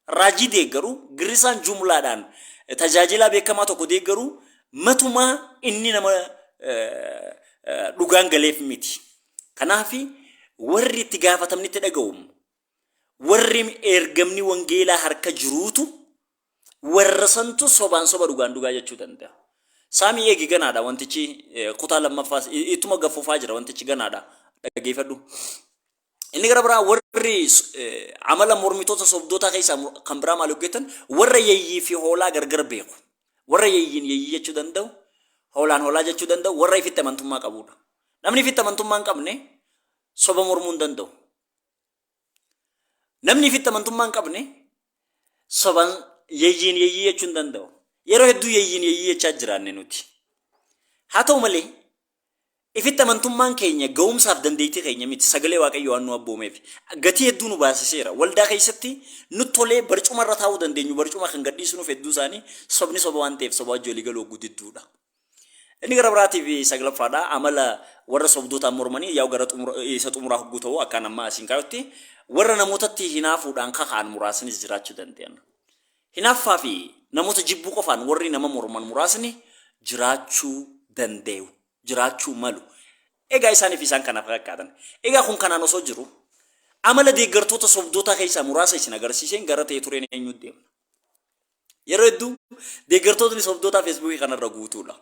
Raajii deeggaru, girrisaan jumlaadhaan tajaajilaa beekamaa tokko deeggaru matumaa inni nama dhugaan galeef miti. Kanaaf warri itti gaafatamni itti dhaga'u warri ergamni wangeelaa harka jiruutu warra santu sobaan soba dhugaan dhugaa jechuu danda'a. Saamii eegi ganaadha wantichi kutaa lammaffaas ittuma gaffufaa jira wantichi ganaadha dhageeffadhu. Inni gara biraa warri amala mormitoota sobdootaa keessaa kan biraa maal hojjetan warra yeeyyii fi hoolaa gargar beeku. Warra yeeyyiin yeeyyii jechuu danda'u, hoolaan hoolaa jechuu danda'u, warra ifitti amantummaa qabudha. Namni ifitti amantummaa hin qabne soba mormuu hin danda'u. Namni ifitti amantummaa hin qabne soban yeeyyiin yeeyyii jechuu hin danda'u. Yeroo hedduu yeeyyiin yeeyyii jechaa jiraanne nuti. Haa ta'u malee Ifitti amantummaan keenya ga'umsaaf dandeettii keenya miti, sagalee Waaqayyoo waan nu abboomeef. Gatii hedduu nu baasiseera. Waldaa keessatti nutti tolee barcuma irra taa'uu dandeenyu barcuma kan gadhiisu nuuf hedduu isaanii sobni soba waan ta'eef sobaa wajji walii galuu hogguu didduudha. Inni gara biraatiif saglaffaadha amala warra sobdootaan mormanii yaa'u gara xumura, isa xumuraa hogguu ta'u akkaan amma asiin kaayutti warra namootatti hinaafuudhaan kaka'an muraasnis jiraachuu danda'an. Hinaaffaa fi namoota jibbuu qofaan warri nama morman muraasni jiraachuu dandayu, jiraachuu malu. Egaa isaanii fi isaan kana fakkaatan. Egaa kun kanaan osoo jiru, amala deeggartoota sobdootaa keessaa muraasa isin agarsiiseen gara ta'e tureen eenyuutti deemna? Yeroo hedduu deeggartootni sobdootaa Feesbuukii kanarra guutuudha.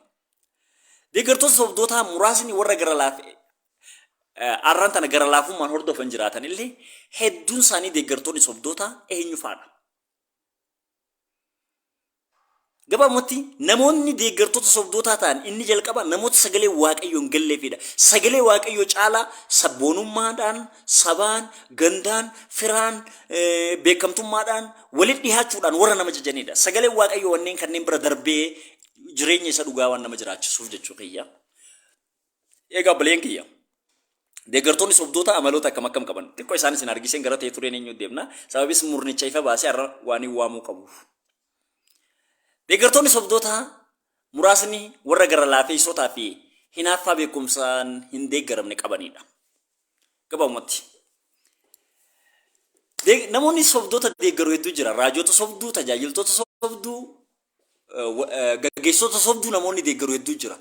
Deeggartoota sobdootaa muraasni warra gara laaf arran tana gara laafummaan hordofan jiraatan illee hedduun isaanii deeggartoonni sobdootaa eenyu faadha? Gabaabumatti namoonni deeggartoota sobdootaa ta'an inni jalqaba namoota sagalee waaqayyoon galleefidha. Sagalee waaqayyoo caalaa sabboonummaadhaan, sabaan, gandaan, firaan, beekamtummaadhaan, walitti dhihaachuudhaan warra nama jajanidha. Sagalee waaqayyoo wanneen kanneen bira darbee jireenya isa dhugaa waan nama jiraachisuuf jechuu kiyya. Egaa obboleen kiyya deeggartoonni sobdoota amaloota akkam akkam qaban xiqqoo isaan isin argisiin gara ta'e tureen eenyu deemna sababis murnicha ifa baasee har'a waan hin waamuu qabuuf. Deeggartoonni sobdoota muraasni warra gara laafeessotaa fi hinaaffaa beekumsaan hin deeggaramne qabanidha. Gabaabumatti. Namoonni sobdoota deeggaru hedduu jira. Raajota sobduu, tajaajiltoota sobduu, gaggeessitoota sobduu namoonni deeggaru hedduu jira.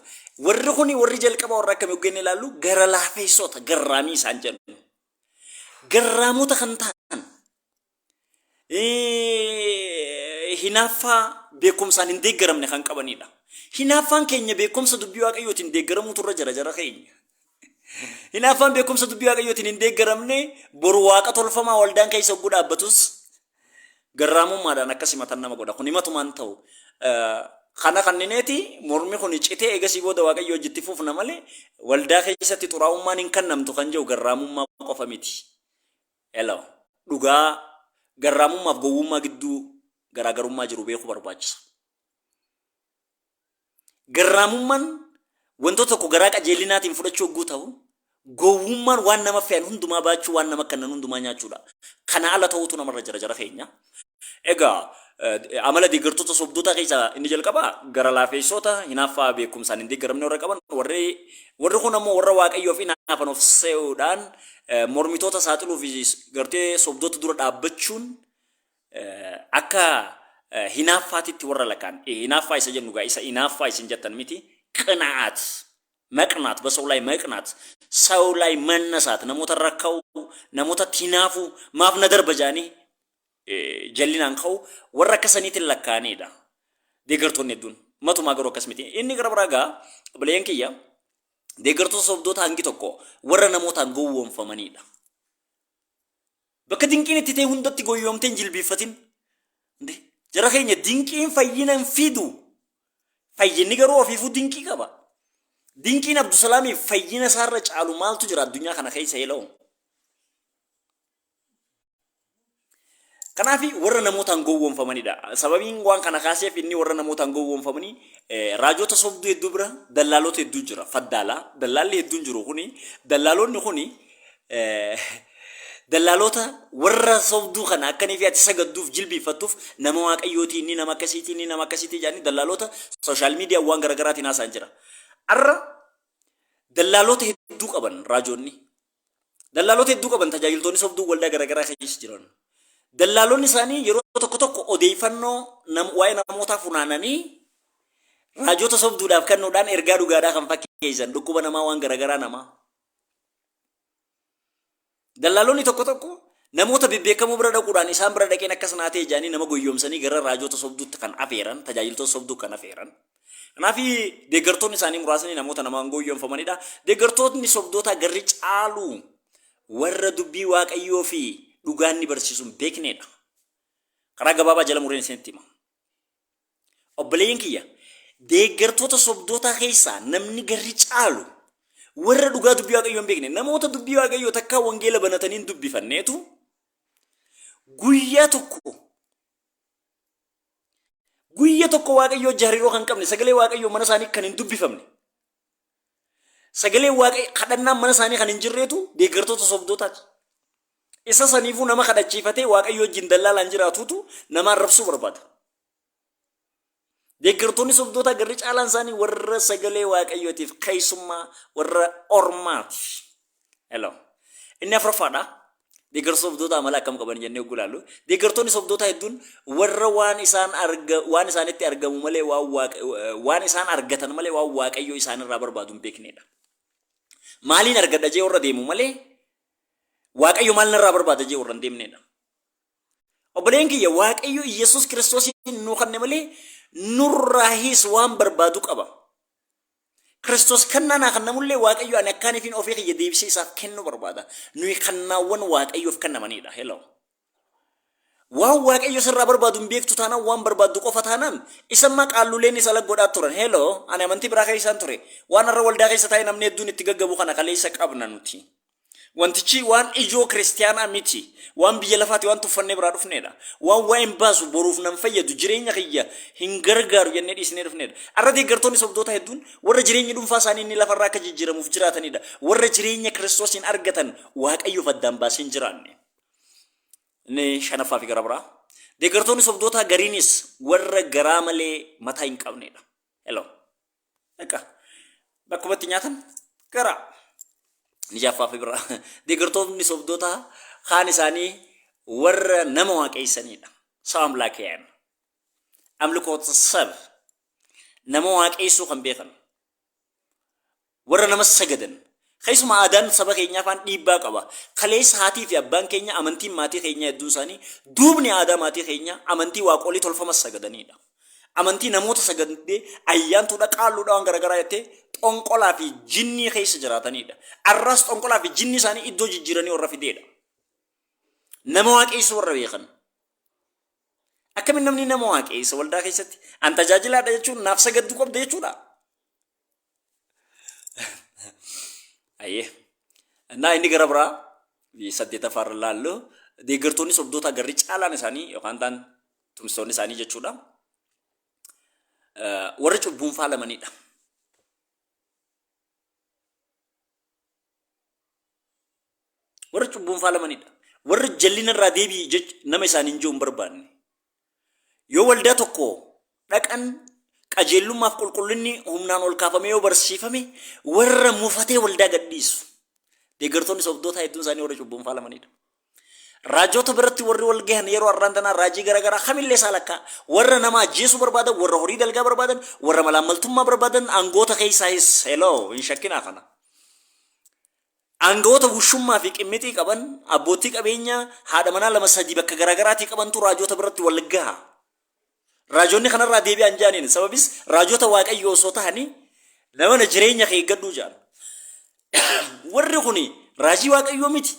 Warri kuni warri jalqaba warra akkamii hoggannee ilaallu gara laafeessoota garraamii isaan jennu. Garraamota kan ta'an hinaaffaa beekumsaan hin deeggaramne kan qabanidha. Hinaaffaan keenya beekumsa dubbii waaqayyootiin deeggaramuutu irra jira jara keenya. Hinaaffaan beekumsa dubbii waaqayyootiin hin deeggaramne boru waaqa tolfamaa waldaan keessa hogguu dhaabbatus garraamummaadhaan akkas himatan nama godha. Kun himatuma hin ta'u. Kana kannineeti mormi kun citee eegasii booda Waaqayyo hojii itti fufna malee waldaa keessatti xuraa'ummaan hin kannamtu kan jedhu garraamummaa qofa miti. Hello. Dhugaa garraamummaaf gowwummaa gidduu garaagarummaa jiru beekuu barbaachisa. Garraamummaan wantoota tokko garaa qajeellinaatiin fudhachuu hogguu ta'u, gowwummaan waan nama fe'an hundumaa baachuu, waan nama kennan hundumaa nyaachuudha. Kana ala ta'uutu namarra jira jara keenya. Egaa eh, amala deeggartoota sobdootaa keessaa inni jalqabaa gara laafeessoota hinaaffaa beekumsaan hin deeggaramne warra qaban warri warri kun ammoo warra waaqayyoof hinaafan of se'uudhaan eh, mormitoota saaxiluu fi gartee sobdoota dura dhaabbachuun akka hinaaffaatitti warra lakaan hinaaffaa isa jennu gaa isa inaaffaa isin jettan miti qina'aat maqnaat basoo laay maqnaat saw laay mannasaat namoota irra ka'u namootatti hinaafu maaf na darba jaanii jallinaan ka'u warra akka saniitiin lakkaa'aniidha deeggartoonni hedduun matumaa garuu akkas miti inni gara biraa gaa obboleeyyan kiyya deeggartoota sobdoota hangi tokko warra namootaan gowwoomfamaniidha Bakka dinqiin itti ta'e hundatti goyyoomtee hin jilbiiffatin. Ndee, Jara keenya dinqiin fayyina hin fidu. Fayyinni garuu ofiifuu dinqii qaba. Dinqiin Abdusalaamiif fayyina isaarra caalu maaltu jira addunyaa kana keessa heloo? Kanaaf warra namootaan gowwoomfamanidha. Sababiin waan kana kaaseef inni warra namootaan gowwoomfamanii eh, raajota sobduu hedduu bira dallaalota hedduu jira. Faddaalaa dallaalli hedduun jiru kuni dallaalonni kuni dallaaloota warra sobduu kana akkanii fi ati sagadduuf jilbiiffattuuf nama waaqayyootii inni nama akkasiitii inni nama akkasiitii jedhanii dallaaloota sooshaal miidiyaa waan garaagaraatiin haasaan jira. Arra dallaaloota hedduu qaban raajoonni. Dallaaloota hedduu qaban tajaajiltoonni sobduu waldaa garaagaraa keessa jiran. Dallaaloonni isaanii yeroo tokko tokko odeeffannoo nam- waa'ee namootaa funaananii raajota sobduudhaaf kennuudhaan ergaa dhugaadhaa kan fakkeessan dhukkuba namaa waan garaagaraa namaa. Dallaalonni tokko tokko namoota bebbeekamoo bira dhaquudhaan isaan bira dhaqeen akkas naa ta'e jedhanii nama goyyoomsanii gara raajota sobduutti kan afeeran, tajaajiltoota sobduu kan afeeran. Kanaaf deeggartoonni isaanii muraasni namoota namaan goyyoomfamanidha. Deeggartootni sobdootaa garri caalu warra dubbii Waaqayyoo fi dhugaan ni barsiisuun beeknedha. Karaa gabaabaa jala mureen isinitti hima. Obboleeyyan kiyya, deeggartoota sobdootaa keessaa namni garri caalu warra dhugaa dubbii Waaqayyoo hin beekne, namoota dubbii Waaqayyoo takkaa wangeela banatanii hin dubbifanneetu guyyaa tokko guyya tokko Waaqayyoo jariroo kan qabne sagalee Waaqayyoo mana isaanii kan hin dubbifamne Sagaleen waaqayyo kadhannaan mana isaanii kan hin jirreetu deeggartoota sobdootaati. Isa saniifuu nama kadhachiifatee waaqayyo wajjin dallaalaan jiraatuutu nama arrabsuu barbaada. Deeggartoonni sobdootaa garri caalaan isaanii warra sagalee waaqayyootiif keessummaa warra ormaati. Hello. Inni afuraffaadha. Deeggarsa sobdootaa amala akkam qaban jennee oguu ilaallu. Deeggartoonni sobdootaa hedduun warra waan isaan arga waan isaanitti argamu malee waan waaqa waan isaan argatan malee waan waaqayyo isaanirraa barbaadu hin beeknedha. Maaliin argadha jee warra deemu malee waaqayyo maal narraa barbaada jee warra hin deemnedha. Obboleen kiyya waaqayyo Iyyasuus Kiristoosiin nuu kanne malee nurraahis waan barbaadu qaba. Kiristoos kannaa naa kannamullee Waaqayyo ani akkaanifiin ofii kiyya deebisee isaaf kennuu barbaada. Nuyi kannaawwan Waaqayyoof kannamaniidha. Hello. Waan Waaqayyo sirraa barbaadu hin beektu taanaan waan barbaaddu qofa taanaan isa ammaa qaalluuleen isa lag godhaa turan. Hello. Ani amantii biraa keessaan ture. Waan har'a waldaa keessa taa'ee namni hedduun itti gaggabu kana kaleessa qabna nuti. Wantichi waan ijoo Kiristiyaanaa miti. Waan biyya lafaati, waan tuffannee biraa dhufneedha. Waan waa hin baasu, boruuf nan fayyadu, jireenya kiyya hin gargaaru jennee dhiisnee dhufneedha. Har'a deeggartoonni sobdootaa hedduun warra jireenyi dhuunfaa isaanii inni lafa irraa akka jijjiiramuuf jiraataniidha. Warra jireenya Kiristoosiin argatan Waaqayyoof addaan baasee hin jiraanne. Inni shanaffaa fi gara biraa. Deeggartoonni sobdootaa gariinis warra garaa malee mataa hin qabneedha. Hello. Egaa bakkuma itti nyaatan gara ni jaaffaa fi biraa deeggartoonni sobdoota kaan isaanii warra nama waaqeessanidha. Saba amlaakiyaan. Amlikoota sab nama waaqeessuu kan beekan. Warra nama sagadan Keessumaa aadaan saba keenyaa faan dhiibbaa qaba. Kaleessa haatii fi abbaan keenya amantiin maatii keenyaa hedduun isaanii duubni aadaa maatii keenyaa amantii waaqolii tolfamas sagadaniidha. Amantii namoota sagadee ayyaantuudha qaalluudha waan garaagaraa jettee xonqolaa fi jinnii keessa jiraataniidha. Arraas xonqolaa fi jinnii isaanii iddoo jijjiiranii warra fideedha. Nama waaqeessuu warra beekan. Akkamiin namni nama waaqeessa waldaa keessatti an tajaajilaadha jechuun naaf sagadduu qabda jechuudha. Ayyee. Innaa inni gara biraa saddeetaffaa irra laallu deeggartoonni sobdootaa garri caalaan isaanii yookaan ta'an tumsitoonni isaanii jechuudha. Warri cubbuun faalamanidha. Warri cubbuun faalamanidha. Warri jallina irraa deebi'i nama isaaniin jiru hin barbaanne. Yoo waldaa tokko dhaqan qajeellummaaf qulqullinni humnaan ol kaafamee yoo barsiifame warra mufatee waldaa gadhiisu. Deeggartoonni sobdootaa hedduun isaanii warra cubbuun faalamanidha. Raajota biratti warri wal gahan yeroo har'aan tanaa raajii garaagaraa kamillee isaa lakkaa warra nama ajjeesuu barbaadan, warra horii dalgaa barbaadan, warra malaammaltummaa barbaadan aangoota keessaa is heloo hin shakkinaa kana. Aanga'oota wushummaa fi qimmixii qaban, abboottii qabeenyaa haadha manaa lama sadii bakka garaa garaatii qabantu raajoota biratti wal gaha. Raajoonni kanarraa deebi'aa hin jedhaniin. Sababis raajoota Waaqayyoo osoo tahanii na mana jireenya kee eeggadhuu jedhan. Warri kuni raajii Waaqayyoo miti.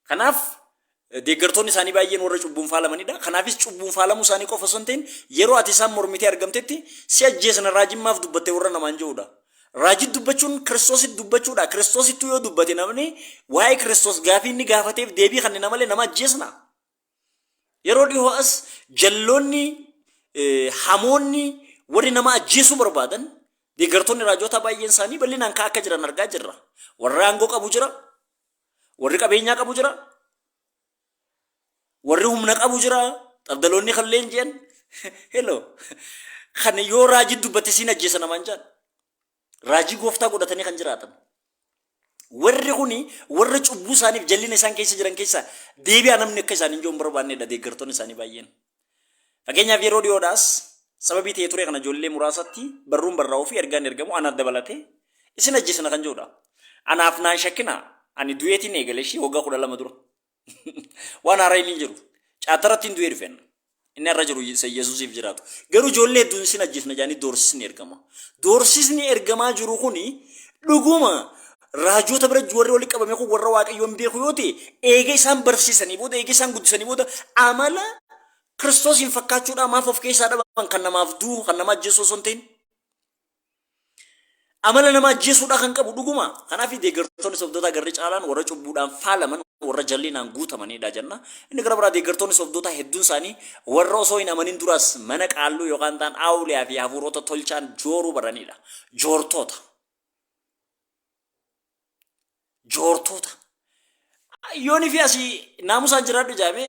Kanaaf deeggartoonni isaanii baay'een warra cubbuun faalamanidha. Kanaafis cubbuun faalamuu isaanii qofa osoo hin ta'in yeroo ati isaan mormitee argamtetti si ajjeesna raajiin maaf dubbatte warra namaan je'udha. Raajii dubbachuun kiristoositti dubbachuudha. Kiristoosittuu yoo dubbate namni waa'ee kiristoos gaafii inni gaafateef deebii kennina malee nama ajjeesna. Yeroo dhihoo as jalloonni eh, hamoonni warri nama ajjeesuu barbaadan deeggartoonni raajootaa baay'een isaanii bal'inaan ka'aa akka jiran argaa jirra. Warri aangoo qabu jira, warri qabeenyaa qabu jira, warri humna qabu jira, xabdaloonni kan leenji'an. Hello. Kan yoo raajii dubbate siin ajjeesa namaan jaan. Raajii gooftaa godhatanii kan jiraatan. Warri kun warra cubbuu isaaniif jallina isaan keessa jiran keessaa deebi'aa namni akka isaanii iyyuu hin barbaannedha deeggartoonni isaanii baay'een. Fakkeenyaaf yeroo dhiyoodhaas sababii ta'ee ture kana ijoollee muraasatti barruun barraa'uu fi ergaan ergamu anaaf dabalatee isin ajjeesina kan jedhudha. Anaaf naan shakkina ani du'eetiin eegale ishii waggaa kudha lama dura. Waan haaraa inni hin jiru. Caataratti hin du'ee dhufeen. Inni har'a jiru isa Yesuusiif jiraatu. Garuu ijoollee hedduun isin ajjeefna jedhanii doorsisni ergama. Doorsisni ergamaa jiru kuni dhuguma raajoota bira warri walitti qabame kun warra waaqayyoon beeku yoo ta'e eega isaan barsiisanii booda eega isaan guddisanii booda amala kiristoosiin fakkaachuudhaa maaf of keessaa dhaban kan namaaf du'u kan nama ajjeessu osoo hin ta'in. Amala nama ajjeesuudhaa kan qabu dhuguma. Kanaaf deeggartoonni sobdootaa garri caalaan warra cubbuudhaan faalaman warra jallinaan guutamanidha jenna. Inni gara biraa deeggartoonni sobdootaa hedduun isaanii warra osoo hin amanin duraas mana qaalluu yookaan ta'an aawuliyaa fi hafuurota tolchaan jooruu baranidha. Joortoota. Joortoota. Yoonii fi asii naamusaan jiraadhu jaamee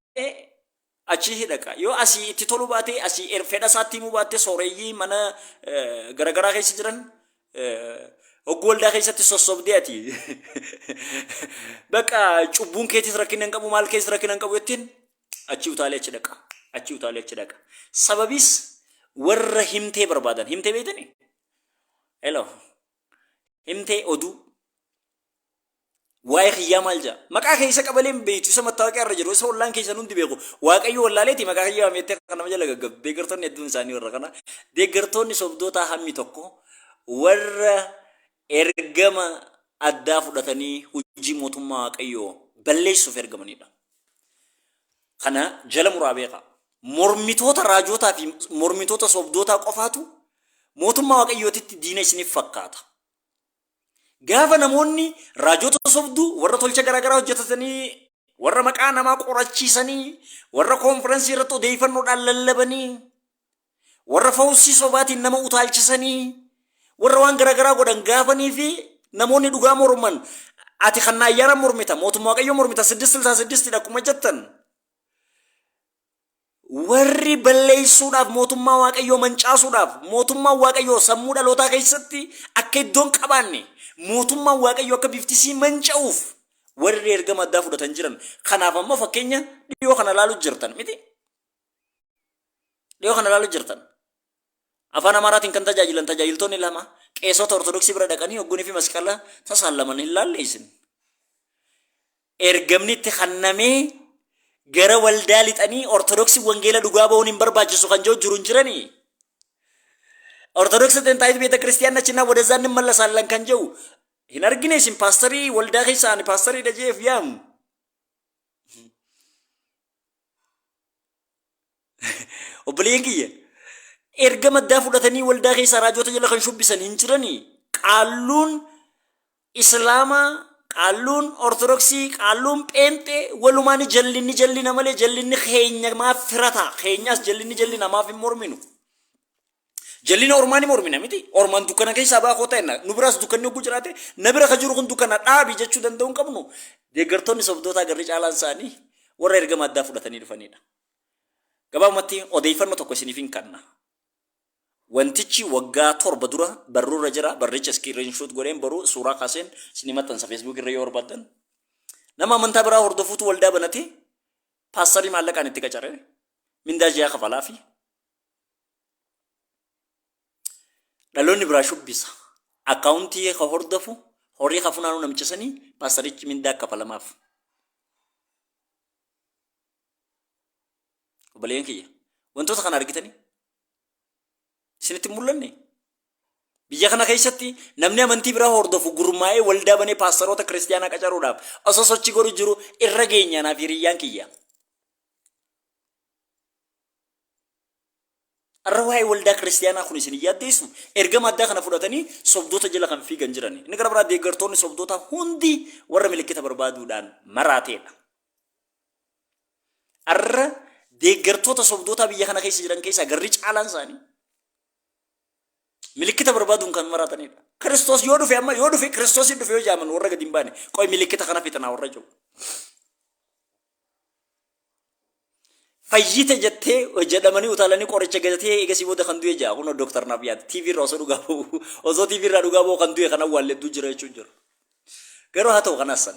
achii hidhaqa. Yoo asii itti toluu baatee asii er- fedha isaatti himuu baattee sooreyyii mana eh, garagaraa keessa jiran eh, hogguu waldaa keessatti sossobdee ati bakka cubbuun keetis rakkina hin qabu maal keessa rakkina hin qabu jettiin achii utaalee achi dhaqa. Achii utaalee achi dhaqa. Sababiis warra himtee barbaadan himtee beektanii? Hello. Himtee oduu. waa'ee kiyyaa maal jaa maqaa kee isa qabalee hin beektu isa mattaawaqiyaa irra jiru isa ollaan keessan hundi beeku waaqayyo wallaaleeti maqaa kiyyaa wameettee kan nama jala gaggabdu deeggartoonni hedduun isaanii warra kana deeggartoonni sobdootaa hammi tokko warra ergama addaa fudhatanii hojii mootummaa waaqayyoo balleessuuf ergamanidha. Kana jala muraa beekaa. Mormitoota raajootaa fi mormitoota sobdootaa qofaatu mootummaa waaqayyootitti diina isiniif fakkaata. Gaafa namoonni raajota sobduu warra tolcha garaagaraa hojjetatanii warra maqaa namaa qorachiisanii warra koonfirensii irratti odeeffannoodhaan lallabanii warra fawussii sobaatiin nama utaalchisanii warra waan garaagaraa godhan gaafanii fi namoonni dhugaa morman ati kan na ayyaana mormita mootummaa waaqayyoo mormita siddist silsaa siddistidha akkuma jettan Warri balleessuudhaaf mootummaa Waaqayyoo mancaasuudhaaf mootummaan Waaqayyoo sammuu dhalootaa keessatti akka iddoon qabaanne mootummaan Waaqayyoo akka biftisii manca'uuf warri ergama addaa fudhatan jiran kanaaf amma fakkeenya dhiyoo kana ilaaluu jirtan miti dhiyoo kana ilaaluu jirtan Afaan Amaaraatiin kan tajaajilan tajaajiltoonni lama qeesota Ortodoksii bira dhaqanii ogguunii fi masqala tasaallaman hin laalle isin. Ergamni itti kannamee gara waldaa lixanii Ortodoksii wangeela dhugaa ba'uun hin barbaachisu kan jiru jiru hin jiranii. Ortodoksii xinxaayitu beeta kiristiyaanni achinaa wadazaa inni mallasaallan kan jiru hin argine isin paastarii waldaa keessa ani paastarii dhajeef yaamu. Obboleeyyan kiyya erga maddaa fudhatanii waldaa keessaa raajoota jala kan shubbisan hin jiranii qaalluun islaamaa qaalluun ortodoksii qaalluun pheenxee walumaan jallinni jallina malee jallinni keenya maaf firataa keenyaas jallinni jallina maaf hin morminu jallina ormaa ni mormina miti ormaan dukkana keessaa baa koo ta'enna nu biraas dukkanni hogguu jiraate na bira ka jiru kun dukkana dhaabi jechuu danda'uu hin qabnu deeggartoonni sobdootaa garri caalaan isaanii warra erga maddaa fudhatanii dhufanidha. Gabaabumatti odeeyfanno tokko isiniifin kanna. Wantichi waggaa torba dura barruu irra jira, barricha screen shoot godheen boruu suuraa kaaseen isinii maxxansa Facebook irra yoo barbaaddan. Nama amantaa biraa hordofuutu waldaa banate, paastarii maallaqaan itti qacare, mindaa ji'aa kafalaafi. Dhaloonni biraa shubbisa. Akkaawuntii ka hordofu, horii ka funaanuu namicha sanii, paastarichi mindaa kafalamaaf. Obboleeyyan kiyya wantoota kana argitanii isinitti hin mul'anne. Biyya kana keessatti namni amantii biraa hordofu gurmaa'ee waldaa banee paastaroota kiristiyaanaa qacaruudhaaf osoo sochii godhu jiru irra geenyaa naaf hiriyyaan kiyya. Har'a waa'ee waldaa kiristiyaanaa kun isin hin yaaddeessu ergama addaa kana fudhatanii sobdoota jala kan fiigan jirani. Inni gara biraa deeggartoonni sobdootaa hundi warra milikkita barbaaduudhaan maraateedha. Arra deeggartoota sobdootaa biyya kana keessa jiran keessaa garri caalaan isaanii milikkita barbaaduun kan maraatanidha. Kiristoos yoo dhufe amma yoo dhufe Kiristoos hin dhufe yoo jaaman warra gadi hin baane qoy milikkita kana fixanaa warra jiru. Fayyite jettee jedhamanii utaalanii qoricha gatatee eegasii booda kan du'e jaa kunoo dooktar naaf yaada TV irraa osoo dhugaa ba'u osoo TV irraa dhugaa ba'u kan du'e kan awwaalle hedduu jira jechuun jiru. Garuu haa ta'u kanaas san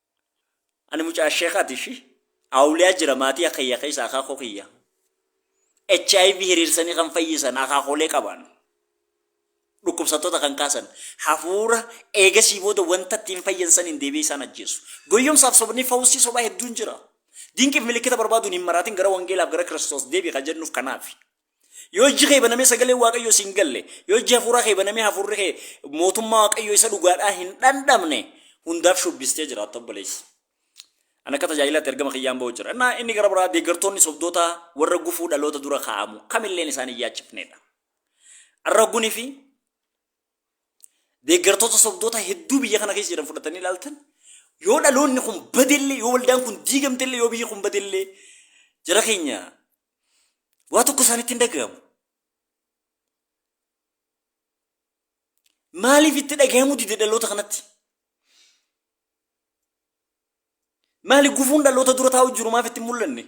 Ani mucaa sheekhaati ishi awliyaa jira maatii akiyya keessa akaakoo kiyya hiv hiriirsanii kan fayyisan akaakoolee qabaan dhukkubsattoota kan kaasan hafuura eegasii booda wanta ittiin fayyan saniin deebi'ee isaan ajjeesu goyyomsaaf sobni fawusii sobaa hedduun jira dinqiif milikkita barbaaduun hin maraatin gara wangeelaaf gara kiristoos deebi kan jennuuf kanaafi Yoo ijji kee banamee sagaleen Waaqayyoo siin galle, yoo ijji hafuuraa kee banamee hafuurri kee mootummaa Waaqayyoo isa dhugaadhaa hin dhandhamne hundaaf shubbistee jiraatta obboleessa. Ani akka tajaajilaatti ergama kiyyaan ba'u jira. Innaa inni gara biraa deeggartoonni sobdootaa warra gufuu dhaloota dura kaa'amu kamilleen isaan hin yaachifneedha. Arra gunii fi deeggartoota sobdoota hedduu biyya kana keessa jiran fudhatanii ilaaltan yoo dhaloonni kun badellee yoo waldaan kun diigamtellee yoo biyyi kun badellee jara keenya Waa tokko isaanitti hin dhaga'amu. Maaliif itti dhaga'amuu dide dhaloota kanatti? Maali gufuun dhaloota dura taa'u jiru maaf itti hin mul'anne?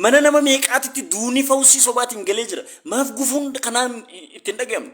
Mana nama meeqaatitti duunii fawusii sobaatiin galee jira. Maaf gufuun kanaan itti hin dhaga'amne?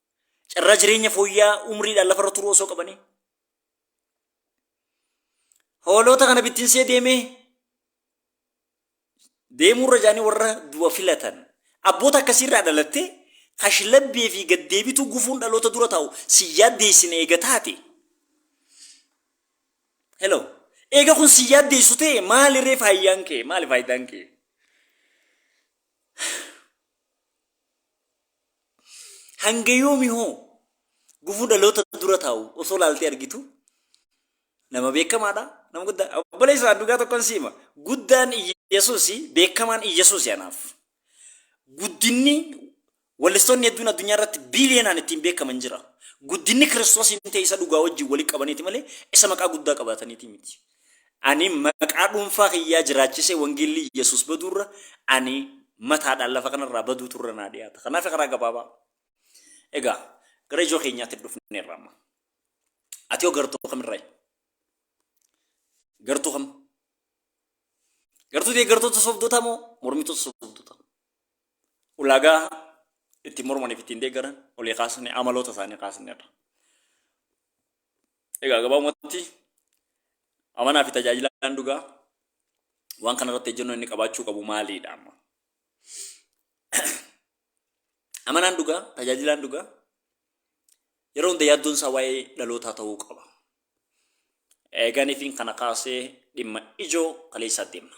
Carraa jireenya fooyya'aa umriidhaan lafarra turuu osoo qabanii. Hooloota kana bittinsee deemee deemuurra jaanii warra du'a filatan. Abboota akkasiirraa dhalattee kashlabbee fi gaddeebituu gufuun dhaloota dura taa'u si yaaddeessine eega taate. Hello. Eega kun si yaaddeessu ta'e maalirree faayyaan kee maali faayidaan kee? Hanga yoomi hoo gufuu dhaloota dura taa'u osoo laaltee argitu nama beekamaadha nama guddaa obboleessa dhugaa tokkon siima guddaan Iyyasuus beekamaan Iyyasuus anaaf guddinni wallistoonni hedduun addunyaa irratti biiliyoonaan ittiin beekaman jira guddinni kiristoosiin ta'e isa dhugaa wajjin walii qabaniiti malee isa maqaa guddaa qabaataniiti miti. Ani maqaa dhuunfaa kiyyaa jiraachisee wangeelli Yesuus baduurra ani mataadhaan lafa kanarraa baduu turre naa dhiyaata. Kanaaf karaa gabaabaa. Egaa gara ijoo keenyaatti dhufneerra amma. Ati hoo gartuu kamirraayi? Gartuu kam? Gartuu deeggartoota sobdootaa moo mormitoota sobdootaa? Ulaagaa ittiin mormaniif ittiin deeggaran olii kaasne amaloota isaanii kaasneerra. Egaa gabaabumatti amanaa fi tajaajilaan dhugaa waan kana irratti ejjennoo inni qabaachuu qabu maaliidha amma? Amanaan dhugaa, tajaajilaan dhugaa yeroo hunda yaaddoon isaa waa'ee dhalootaa ta'uu qaba. Eeganiifiin kana kaasee dhimma ijoo kaleessaatti himna.